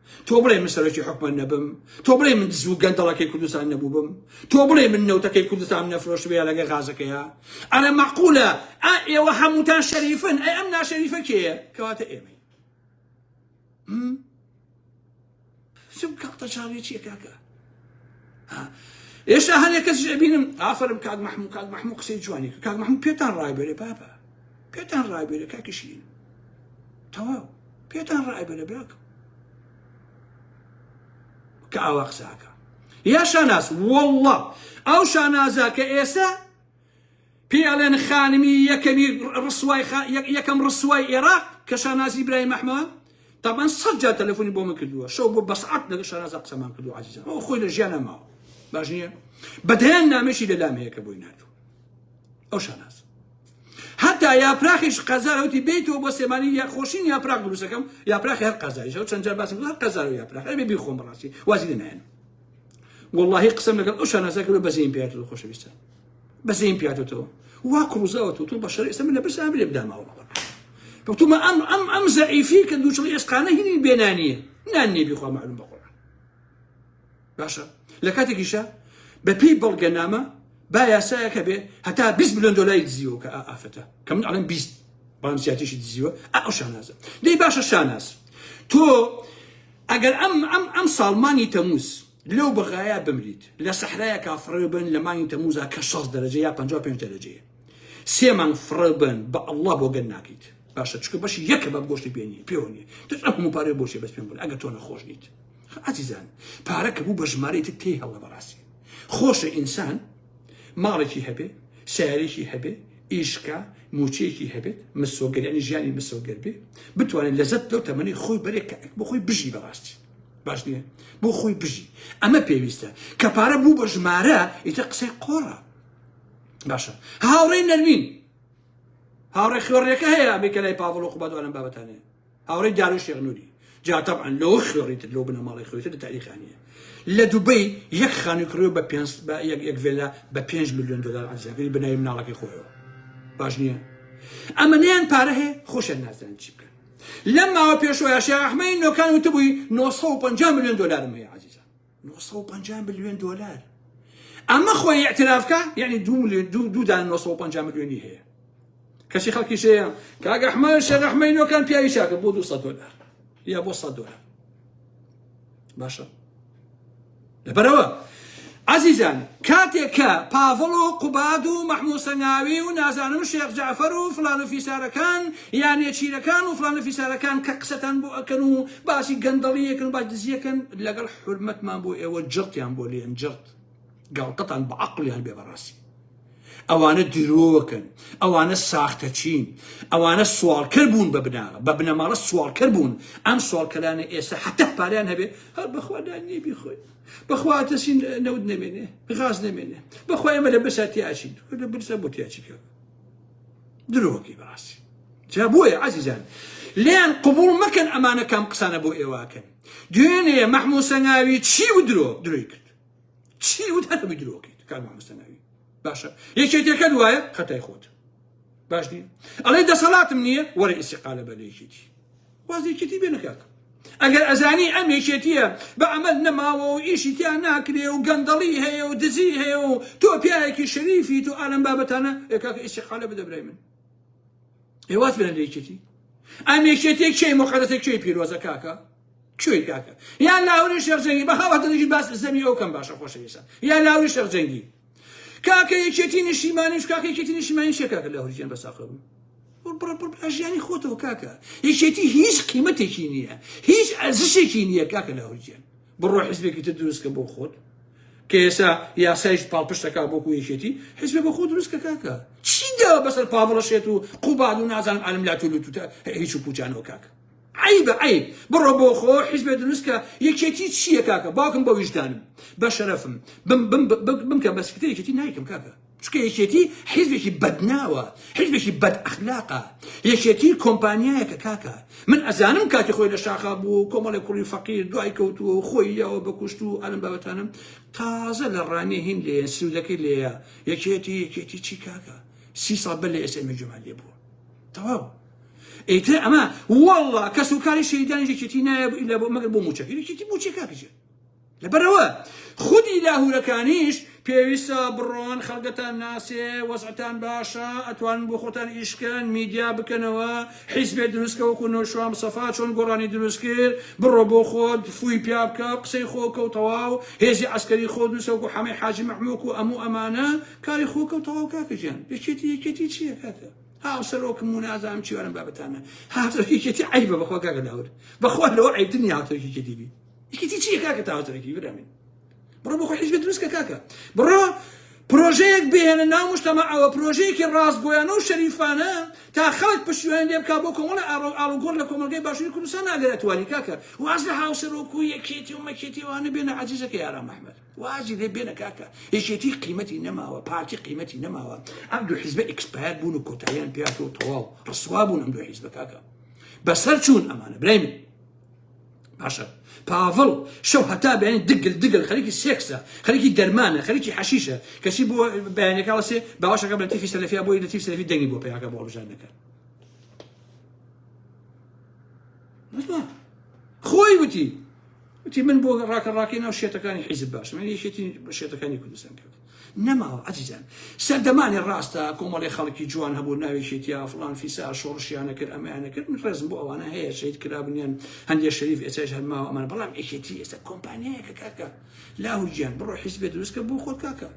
تۆ بڵێ من سەرۆکی حکومە نەبم تۆ بڵێ من دزو گەندەڵەکەی کوردستان نەبووبم تۆ بڵێ من نەوتەکەی کوردستان نەفرۆشت بێ لەگە غازەکەیە ئەرە مەقولە ئا ئێوە هەمووتان شەریفن ئەی ئەم ناشەریفە کێیە کەواتە ئێمەی سم کاڵتە چاڵی چیە کاکە ئێشتا هەنێک کەس بینم ئافرم کاک مححمو کاک مححمو قسەی جوانی کاک مححمو پێتان ڕایبێرێ بابە پێتان ڕایبێرە کاکیشین تەواو پێتان ڕایبەرە براکەم کە ئاوا قساکە یا شاناز والله ئەو شانازە کە ئێستا پێڵێن خانمی یەکەمی ڕسوای یەکەم ڕسوای ئێراق کە شانازی برای مەحمە تامان سەد جار تەلەفۆنی بۆ من کردووە شەو بۆ بەسعات لەگە شانازە قسەمان کردو عزیزان ئەو خۆی لە ژیانە ماوە باش نییە بەدەیان نامێکی لەلام هەیە کە بۆی نردوو ئەو شاناز هەتا یاپراخیش قەزارە وتی بێیتەوە بۆ سێمانی یا خۆشین یاپراخ دروستەکەم یاپراخی هەر قەزاریشەوە چەند جار باسم هەر قەزار و یاپراخ ئەبێ بیخۆم بەڕاستی وازی لێ نایەن واللهی قسم لەگەڵ ئەو شانازە کرد بەزەین پیات و خۆشەویستە بەزەین پیاتەوە وا کڕوزەوە تو بە شەر ئێستا من لە برسان لێ بدامەوە کەوتومە ئەم ئەم ئەم زەعیفی کە دووچڵی ئێسقانە هینی بێنانیە نان نێبی خوا معلوم بەخۆ باشە لە کاتێکیشە بەپی بەڵگەنامە با یاسایەکە بێ هەتا 20 میلیۆن دلاری دزیوە کە ئافرەتە کە من ئەڵم 20 بەڵام زیاتیشی دزیوە ئەو شانازە دەی باشە شاناز تۆ ئەگەر ئەم ئەم ئەم ساڵمانی تەموز لەو بەغایا بمریت لە سەحرایە کا فڕێ بن لە مانگی تەموزا کە 6 دەرەجە یا 55 دەرەجەیە سێ مانگ فڕێ بن بە ئەڵڵا بۆ گەن ناکەیت باشە چکە بەشی یەکە بە گۆشتی پێنی پێوە نیە تۆ ئەم هەموو پارێ بۆشێ بەس پێم بن ئەگە تۆ نەخۆش نیت ئازیزان پارە کە بوو بە ژمارەی تر تێی هەڵە بەڕاستی خۆشە ئینسان ماڵێکی هەبێ سیارێکی هەبێ ئیشکە موچەیەکی هەبێت مسۆگەریانی ژیانی مسۆگەر بێ بتوانێت لەزت لەو تەمەنی خۆی بەرێک کە بۆ خۆی بژی بەڕاستی باش نییە بۆ خۆی بژی ئەمە پێویستە کە پارە بوو بە ژمارە ئیتە قسەی قۆڕە باشە هاوڕێی نەرمین هاوڕێ خوێڕێکە هەیە بێکە لای پاڤڵ و قوبادوانم بابەتانەیە هاوڕێی دانش شێخ نوری جا تەبعەن لەوە خوێڕیتر لەو بنەماڵەی خۆیتر لە تاریخا نییە لە دوبەی یەک خانووی کڕیوە بە پێنج بە یەک یەک ڤێلا بە پێنج ملیۆن دلار عەرزیاکەی بناوی مناڵەکەی خۆیەوە باش نییە ئەمەنیان پارە هەیە خۆشیان نازانن چی بکەن لەم ماوە پێشوەیە شێخ ئەحمەدی نۆکان وتبووی 950 ملیۆن دلارم هەیە عەزیزە نۆ سەد و پەنجا ملیۆن دۆلار ئەمە خۆی ئیعترافکە یعنی دوو ملیۆن دوو دوودان نۆ سەد و پەنجا ملیۆنی هەیە کەچی خەڵکی شەیە کاک ئەحمەد شێخ ئەحمەینۆکان پیاوی چاکە بۆ 200 دلار یا بۆ 100 دلار باشە لەبەرەوە عزیزان کاتێک کە پاڤڵ و قوباد و مەحموو سەنگاوی و نازانم شێخ جعفر و فلان و فیسارەکان یانێ چیرەکان و فلان و فیسارەکان کە قسەتان بۆ ئەکەن و باسی گەندەڵی یەکن باش دزی یەکن لەگەڵ حرمەتمان بۆ ئێوە جڕتیان بۆ لێن جڕت گاڵتەتان بە عقلیان بێ بەڕاستی ئەوانە درۆکەن ئەوانە ساختە چین ئەوانە سوالکەر بوون بە بناغە بە بنەماڵە سوالکەر بوون ئەم سوالکەلانە ئێستا حتا پاریان هەبێ هەر بەخوادا نیە بیخۆی بەخواتەسین نەود نەمێنێ غاز نەمێنێ بەخوای ئەمە لە بەساتیاچین لە برسە بۆ تیاچیکە درۆکەی بەڕاستی جا بۆیە عزیزان لێیان قبوڵ مەکەن ئەمانە کام قسانە بۆ ئێواکەن دوێنێ مەحموو سەنگاوی چی و درۆ درۆی کرد چی وت هەتەبی درۆکەیت کار مەحموو سەنگاوی باشە یەکێتەکە دوایە خەتای خۆت باش نیە ئەڵێ دەسەڵاتم نییە وەرە ئیسیقالە بە لێکێتی واز لەیەکێتی بێنە کاکە ئەگەر ئەزانی ئەم یەکێتیە بە عەمەل نەماوە و ئیشی تیا ناکرێ و گەندەڵی هەیە و دزی هەیە و تۆ پیاوێکی شەریفیت و ئالەم بابەتانە ئێ کاکە ئیستیقالە بدە برای من ئێ واز بێنە لە یەکێتی ئەم یەکێتی کێی مقەدەسە کێی پیرۆزە کاکە کوێی کاکە یان لاوری شێخ جەنگی بە هاوەتەنیشی باس زەمی ئەو کەم باشە خۆشەویستان یان لاوری شێخ جەنگی کاکە یەکێتی نیشیمانیش کاکە یەکێتی نیشیمانی شێ کاکە لە هەرجیان بەساقە بوو ژیانی خۆتەوە کاکە یەکێتی هیچ قیمەتێکی نییە هیچ ئەزشێکی نییە کاکە لە هەرجیان بڕۆ حزبێکی تر دروستکە بۆ خۆت کە ئێسا یاسایش پاڵپشتەکە بۆکو یەکێتی حزب بە خۆ دروستکە کاکە چی داوە بەسەر پاڤڵەشێت و قوباد و نازانم ئالم لاتولوتوتە هیچ و پوچانەوە کاکە عەیبە عەیب بڕۆ بۆ خۆ حیزبێ دروست کە یەکێتی چییە کاکە باوکم بە ویژدانم بە شەرەفم بم بم بمکە بە سکرتێر یەکێتی نایکەم کاکە چکە یەکێتی حیزبێکی بەدناوە حیزبێکی بەد ئەخلاقە یەکێتی کۆمپانیایەکە کاکە من ئەزانم کاتی خۆی لە شاخا بوو و کۆمەڵی کوڕی فەقیر دوای کەوتووە و خۆی یاوە بە کوشت و ئەلم بابەتانم تازە لە ڕانێ هین لێ سرودەکەی لێە یەکێتی یەکێتی چی کاکە سی ساڵ بەر لە ئێستا ئێمە جومان لێ بووە تەواو ئیتر ئەمە واللە کەس و کاری شەهیدانی یەکێتی نایە مەگەر بۆ موچەکە یەکێتی موچە کاکەجێ لەبەرەوە خودی لاهورەکانیش پێویستە بڕۆن خەڵگەتان ناسێ وەزعتان باشە ئەتوان بۆ خۆتان ئیشکەن میدیا بکەنەوە حیزبێ دروستکەوەکو نۆشوام سەفا چۆن گۆڕانی دروست کرد بڕۆ بۆ خۆت فوی پیا بکە قسەی خۆکە و تەواو هێزی ئەسکەری خۆ دووسەوەکو حەمەی حاجی مەحموک و ئەموو ئەمانە کاری خۆکە و تەواو کاکەجیان یەکێتی یەکێتی چییە کاکە هاوسەرۆکم و نازانم چی وانم بابەتانە هاوسەرۆکی کێتی عەیبە بەخوا کاکە داود بەخوا لەوە عەیبتر نیە هاوسەرۆکی کێتی بی یەکێتی چیە کاکە تا هاوسەرۆکی برامین بڕۆ بۆ خۆ حیزبێ دروست کە کاکە بڕۆ پرۆژەیەک بهێنە ناو مشتەمەعەوە پرۆژەیەکی ڕاستگۆیانە و شەریفانە تا خەڵک پشتیوان لێ بکا بۆ کۆمەڵە ئاڕۆ ئاڵوگۆڕ لە کۆمەڵگەی باشووری کوردستان ناگەر ئەتوانی کاکە واز لە هاوسەرۆک و یەکێتی و مەکێتیوانە بێنە عەزیزەکەی ئارام ئەحمەد وازی لێ بێنە کاکە یەکێتی قیمەتی نەماوە پارتی قیمەتی نەماوە ئەم دوو حیزبە ئیکسپایەر بوون و کۆتاییان پێاتەوە تەواو ڕسوا بوون ئەم دوو حیزبە کاکە بەسەر چوون ئەمانە برای من باشە پاڤڵ شەو هەتا بەێن دگل دگل خەرکی سێکسە خەرکی دەرمانە خەرکی حەشیشە کەچی بۆ بەیانەکەڵسێ باوەشەکە بە تیفی سەلفیا بۆی لە تیف سەلفی دەنگی بۆ پیاکە بۆ بژان دەکەن خۆی وتی وتی من بۆ ڕاکە ڕاکەی ناو شێتەکانی حیزب باشم من یەکێتی بە شێتەکانی کوردستان کرد نەماوە ئەزیزان سەردەمانی ڕاستە کۆمەڵی خەڵکی جوان هەبوو ناوێکێتیا فلان فیسا شۆڕشیانە کرد ئەمەیانە کرد من ڕێزم بۆ ئەوانە هەیە شەید کرابنیان هەندێک شەریف ئێستا هەرماوە ئەمان بەڵام یەکێتی ئێستا کۆمپانیایەکە کاکە لاهوجیان بڕۆ حیزبێ دروستکە بۆ خۆت کاکە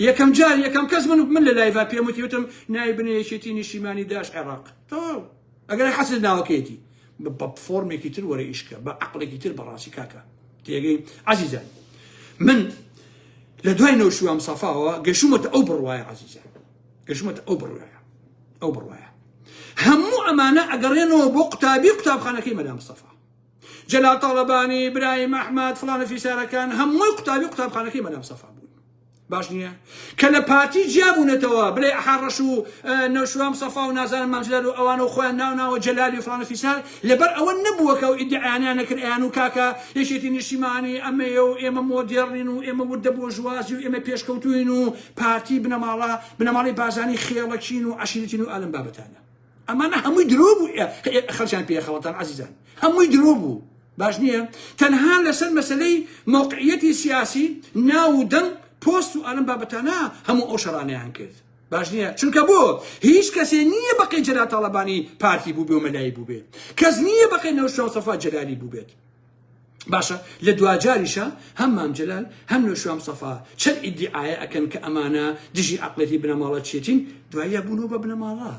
یەکەم جار یەکەم کەس من من لە لایڤ پێم وتیوتم نای بنێ یەکێتی نیشیمانی داش عێراق تەواو ئەگەر حەسل ناوەکەیەتی بە فۆرمێکی تر وەرە ئیش کە بە عەقڵێکی تر بەڕاستی کاکە تێگەی عەزیزان من لە دوای نەوشیوام سەفاوە گەشومەتە ئەو بڕواایە عەزیزان گەشومەتە ئەو بڕواایە ئەو بڕواایە هەموو ئەمانە ئەگەڕێنەوە بۆ قوتابی قوتابخانەکەی مەدام سەفا جەلال تاڵەبانی برایم ئەحمد فلانە فیسارەکان هەمووی قوتابی قوتابخانەکەی مەدام سەفا بوون باش نییە کە لە پارتی جیابوونەتەوە بلێ ئەحا ڕەش و نەوشوام سەفا و نازانم مامجلال و ئەوانە و خۆیان ناو ناوە جەلالی و فلان و فیسار لەبەر ئەوە نەبووە کە و ئیدعیانیان نەکرد ئەیان و کاکە یەکێتی نیشتیمانی ئەمەیە و ئێمە مۆدێڕین و ئێمە وردە بۆرژوازی و ئێمە پێشکەوتووین و پارتی بنەماڵە بنەماڵەی بازانی خێڵەکین و عەشیرەتین و ئالەم بابەتانە ئەمانە هەمووی درۆ بوو خەڵکیان پێ خەڵەتان عزیزان هەمووی درۆ بوو باش نییە تەنها لەسەر مەسلەی موقعیەتی سیاسی ناو و دەنگ پۆست و ئەلم بابەتانە هەموو ئەو شەڕانیان کرد باش نییە چونکە بۆ هیچ کەسێ نییە بەقەی جەلاتاڵەبانی پارتی بووبێ و مەلایی بووبێت کەس نییە بەقەی نەوشاوسەفا جەلالی بووبێت باشە لە دواجاریشا هەم مام جەلال هەم نەوشیروان مستەفا چەند ئیدیعایە ئەکەن کە ئەمانە دژی عەقڵێتی بنەماڵەچیەتین دواییە بوونەوە بە بنەماڵە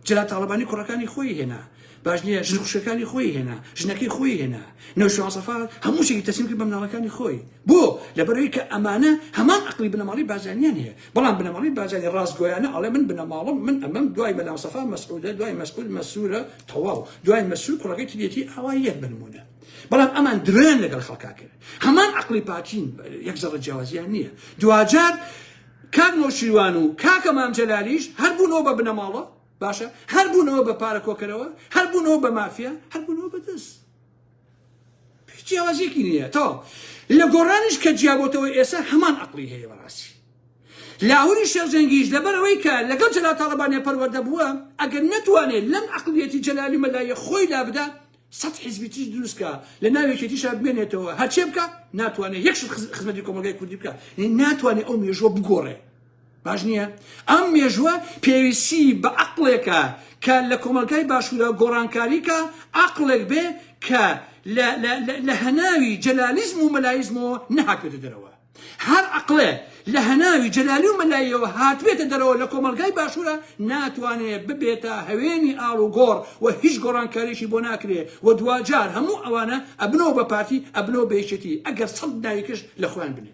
جەلال تاڵەبانی کوڕەکانی خۆی هێنا باش نییە ژن خوشەکانی خۆی هێنا ژنەکەی خۆی هێنا نەوشیروان مستەفا هەموو شتێکی تەسلیم کرد بە مناڵەکانی خۆی بۆ لەبەرەوەی کە ئەمانە هەمان عەقڵی بنەماڵەی بازرگانیان هەیە بەڵام بنەماڵەی بارزانی ڕاستگۆیانە ئەڵێ من بنەماڵەم من ئەمەم دوای مەلامستەفا مەسعودە دوای مەسعود مەسرورە تەواو دوای مەسرور کوڕەکەی تریەتی ئاوا یەک بنمونە بەڵام ئەمان درۆیان لەگەڵ خەڵکا کرد هەمان عقلی پاکین یەک زەڕە جیاوازیان نییە دواجار کاک نۆشیروان و کاکە مام جەلالیش هەر بوونەوە بە بنەماڵە باشە هەر بوونەوە بە پارە کۆکەرەوە هەر بوونەوە بە مافیا هەر بوونەوە بەدەست هیچ جیاوازیەکی نییە تەواو لە گۆڕانیش کە جیابەوەتەوە ئێستا هەمان ئەقلی هەیە بەڕاستی لاهوری شێرجەنگیش لەبەرەوەی کە لەگەڵ جەلال تاڵەبانیە پەروەردە بووە ئەگەر نەتوانێت لەم ئەقلیەتی جەلالی مەلایە خۆی لابدا سەد حزبی تریش دروستکە لە ناوێکێتیشا بمێنێتەوە هەرچێ بکە ناتوانێت یەکش خزمەتی کۆمەلگای کوردی بکە ناتوانێت ئەو مێژوە بگۆڕێ باش نییە؟ ئەم مێژووە پێویستی بە عەقڵێکە کە لە کۆمەڵگای باشوورا گۆڕانکاری کا، عەقڵێک بێ کە لە هەناوی جەلالیزم و مەلاییزمەوە نەهاتبێتە دەرەوە. هەر عەقڵێ لە هەناوی جەلالی و مەلاییەوە هاتبێتە دەرەوە لە کۆمەڵگای باشوورا ناتوانێ ببێتە هەوێنی ئاڵوگۆڕ و هیچ گۆڕانکارییەکی بۆ ناکرێ و دواجار هەموو ئەوانە ئەبنەوە بە پارتی، ئەبنەوە بە یەکێتی ئەگەر سەد ناویکش لە خۆیان بنێ.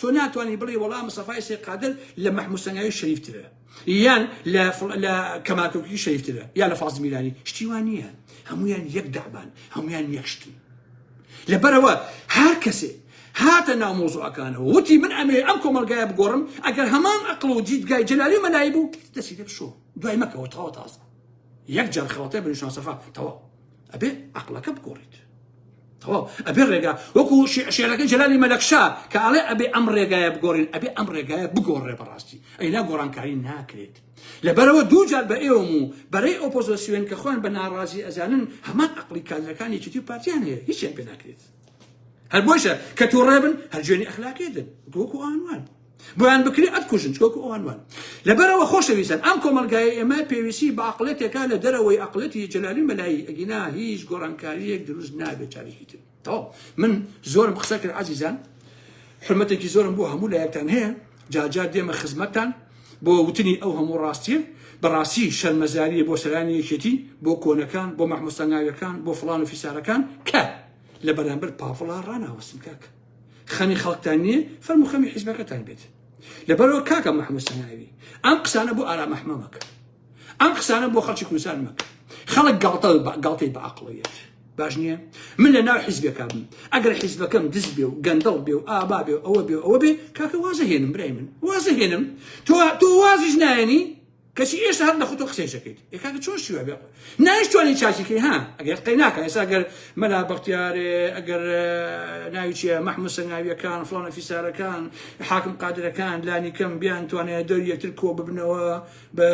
تۆ ناتوانی بڵێ وەڵا مستەفای سەی قادر لە مەحموود سەنگاوی شەریفترە یان لە فڵ- لە کەماکۆکی شەریفترە یا لە فازل میرانی شتی وان نییە هەمویان یەک دابان هەمویان یەک شتن لەبەرەوە هەر کەسێ هاتە ناو مۆزوعەکانەوە وتی من ئەمێ ئەم کۆمەلگایە بگۆڕم ئەگەر هەمان ئەقڵ و دیدگای جەلالی و مەلایی بوو دەسی لێ بشۆ دوای مەکەوە تەواو تازە یەک جار خەڵەتێ بنوشان سەفا تەواو ئەبێ عەقڵەکە بگۆڕیت تەواو ئەبێ ڕێگا وەکو شعرەکە جەلالی مەلەکشا کە ئەڵێ ئەبێ ئەم ڕێگایە بگۆڕین ئەبێ ئەم ڕێگایە بگۆڕێ بەڕاستی ئەینا گۆڕانکاری ناکرێت لەبەرەوە دووجار بە ئێوەم و بەرەی ئۆپۆزۆسیۆن کە خۆیان بە ناڕازی ئەزانن هەمان عقلی کادرەکانی چیتی پارتیان هەیە هیچیان پێ ناکرێت هەر بۆشە کە تۆ ڕێبن هەر جوێنی ئەخلاقی دن گۆکو ئەوانوان بۆیان بکری ئەت کوژن چۆکو ئەوانوان لەبەرەوە خۆشەویستن ئەم کۆمەلگای ئێمە پێویستی بە عقلێتێکە لە دەرەوەی عقلەتی جلالی مەلایی ئەگینا هیچ گۆڕانکاریەک دروست نابێت چارێکی تر تەواو من زۆرم قسە کرد عزیزان حرمەتێکی زۆرم بۆ هەموو لایەکتان هەیە جار جار دێمە خزمەتتان بۆ وتنی ئەو هەموو ڕاستیە بەڕاستی شەرمەزاریە بۆ سەرانی یەکێتی بۆ کۆنەکان بۆ مەحموستا ناویەکان بۆ فڵان و فیسارەکان کە لە بەرامبەر پاڤڵا ڕاناوەستن کاک خەمی خەڵکتان نییە فەرم و خەمی حیزبەکەتان بێت لەبەرەوە کاکە مەحموستا ناوی ئەم قسانە بۆ ئارام ئەحمەمەکە ئەم قسانە بۆ خەڵکی کوردستان مەکە خەڵک گاڵتە گاڵتەی بە عقڵەیەت باش نییە من لە ناو حیزبەکە بم ئەگەر حیزبەکەم دز بێ و گەندەڵ بێ و ئابا بێ و ئەوە بێ ئەوە بێ کاکە وازە هێنم برای من وازە هێنم تۆ تۆ وازیش نایەنی کەچی ئێشتا هەر لە خۆتۆ قسەیشەکەیت ئێکاکە چۆن شوێ بێ نایشتوانانی چاچیکەی ها ئەگەر قەی ناکە ئێستا گەر مەلا بەختیارێ ئەگەر ناویچە مححمود سنگاویەکان فلانە فیسارەکان حاکم قادرەکان لانی کەم بیان توانێت دەر یەکتر کۆ ببنەوە بە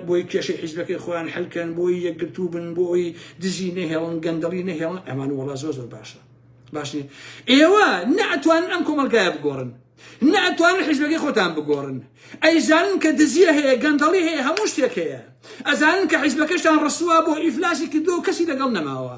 بۆی کێشەی حیزبەکەی خۆیان حلکەن بۆی یەکگرتوو بن بۆی دزی نەهێڵن گەندەڵی نەهێڵن ئەمان وڵا زۆر زۆر باشە باشنی ئێوە ناتوان ئەم کۆمەلگایە بگۆڕن ناتوان حیزبەکەی خۆتان بگۆڕن ئەیزانن کە دزیە هەیە گەندەڵی هەیە هەموو شتێک هەیە ئەزانن کە حیزبەکەشتان ڕسووا بۆ ئیفلاسی کردو کەسی لەگەڵ نەماوە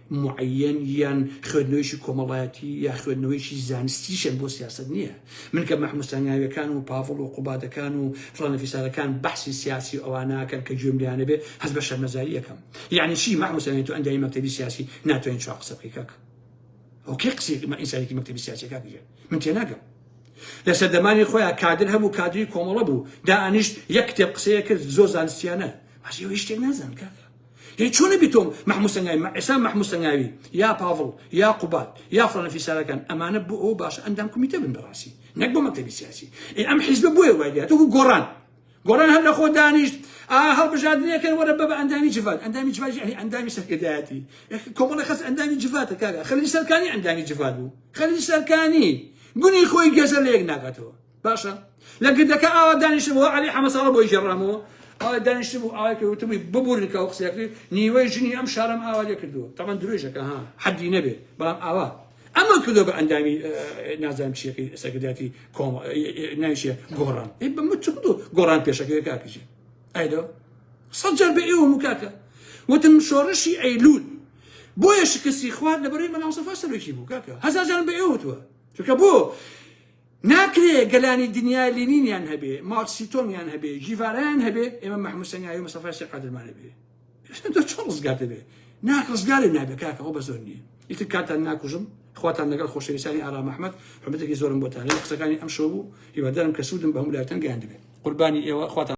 معەیەن یان خوێندنەوەیەکی کۆمەڵایەتی یا خوێندنەوەیەکی زانستیشن بۆ سیاسەت نییە من کە مەحموود سەنگاویەکان و پاڤڵ و قوبادەکان و فڵانە فیسارەکان بەحسی سیاسی و ئەواناکەن کە گوێم لێیانە بێ هەست بە شەرمەزاری ئەکەم یعنی چی مەحموود سەنگاوی تۆ ئەندامی مەکتەبی سیاسی ناتوانین چوار قسە بکەی کاک ئەو کێ قسەیەکی مە ئینسانێکی مەکتەبی سیاسی کاک بژێ من تێناگەم لە سەردەمانی خۆیان کادر هەبوو کادری کۆمەڵە بوو دا ئەنیشت یەک کتێب قسەیە کرد زۆر زانستیانە بەس ئێوە هیچ شتێک نازان کاکە یەی چۆن نەبی تۆم مەحموو سەنگاوی مە ئێستا مەحموو سەنگاوی یا پاڤڵ یا قوباد یا فڵانە فیسارەکان ئەمانە بۆ ئەو باشە ئەندام کومیتە بن بەڕاستی نەک بۆ مەکتەبی سیاسی ئێ ئەم حیزبە بۆیە وای لێ تۆ گۆڕان گۆڕان هەر لە خۆ دانیشت ئا هەڵبژاردنەکەن وەرە بە ئەندامی جڤات ئەندامی جڤات یعنی ئەندامی سەرکردایەتی کۆمەڵی خەس ئەندامی جڤاتە کاکە خەلیل سەرکانی ئەندامی جڤات بوو خەلیل سەرکانی گونی خۆی گێزە لە یەک ناکاتەوە باشە لە گردەکە ئاوا دانیشتبەوە علی حەمە ساڵە بۆی گێڕامەوە ئاوا دانیشت بوو ئاوا پێ وتبووی ببورن کە ئەو قسەیە کرد نیوەی ژنی ئەم شارەم ئاوا لێ کردووە تەمان درێژەکە ها حەدی نەبێ بەڵام ئاوا ئەمە کردو بە ئەندامی نازان چیەکەی سەکرداتی کۆم ناویشە گۆڕان ئی بە من چ کردو گۆڕان پێشەکەی کاکژی ئایدۆ سەد جار بە ئێوە مکاکە وتم شۆڕشی ئەیلول بۆیە شکستی خوارد لەبەرەی مەناوسەفا سەرۆکی بوو کاکە هەزار جارم بە ئێوە وتووە چونکە بۆ ناکرێ گەلانی دنیا لینینیان هەبێ، ماوتسیتۆنگیان هەبێ، ژیڤارایان هەبێ، ئێمە مەحموود سەنگاوی و مستەفای سێ قادرمان هەبێ. تۆ چۆن ڕزگار دەبێ؟ نا ڕزگارێ نابێ کاکە، ئەوە بە زۆر نییە. ئیتر کاتتان ناکوژم، خواتان لەگەڵ خۆشەویستانی ئارام ئەحمەد، حورمەتێکی زۆرم بۆتانە. قسەکانی ئەمشەو بوو، هیوادارم کە سوودم بە هەموو لایەکتان گەیاندبێ. قوربانی ئێوە، خواتان.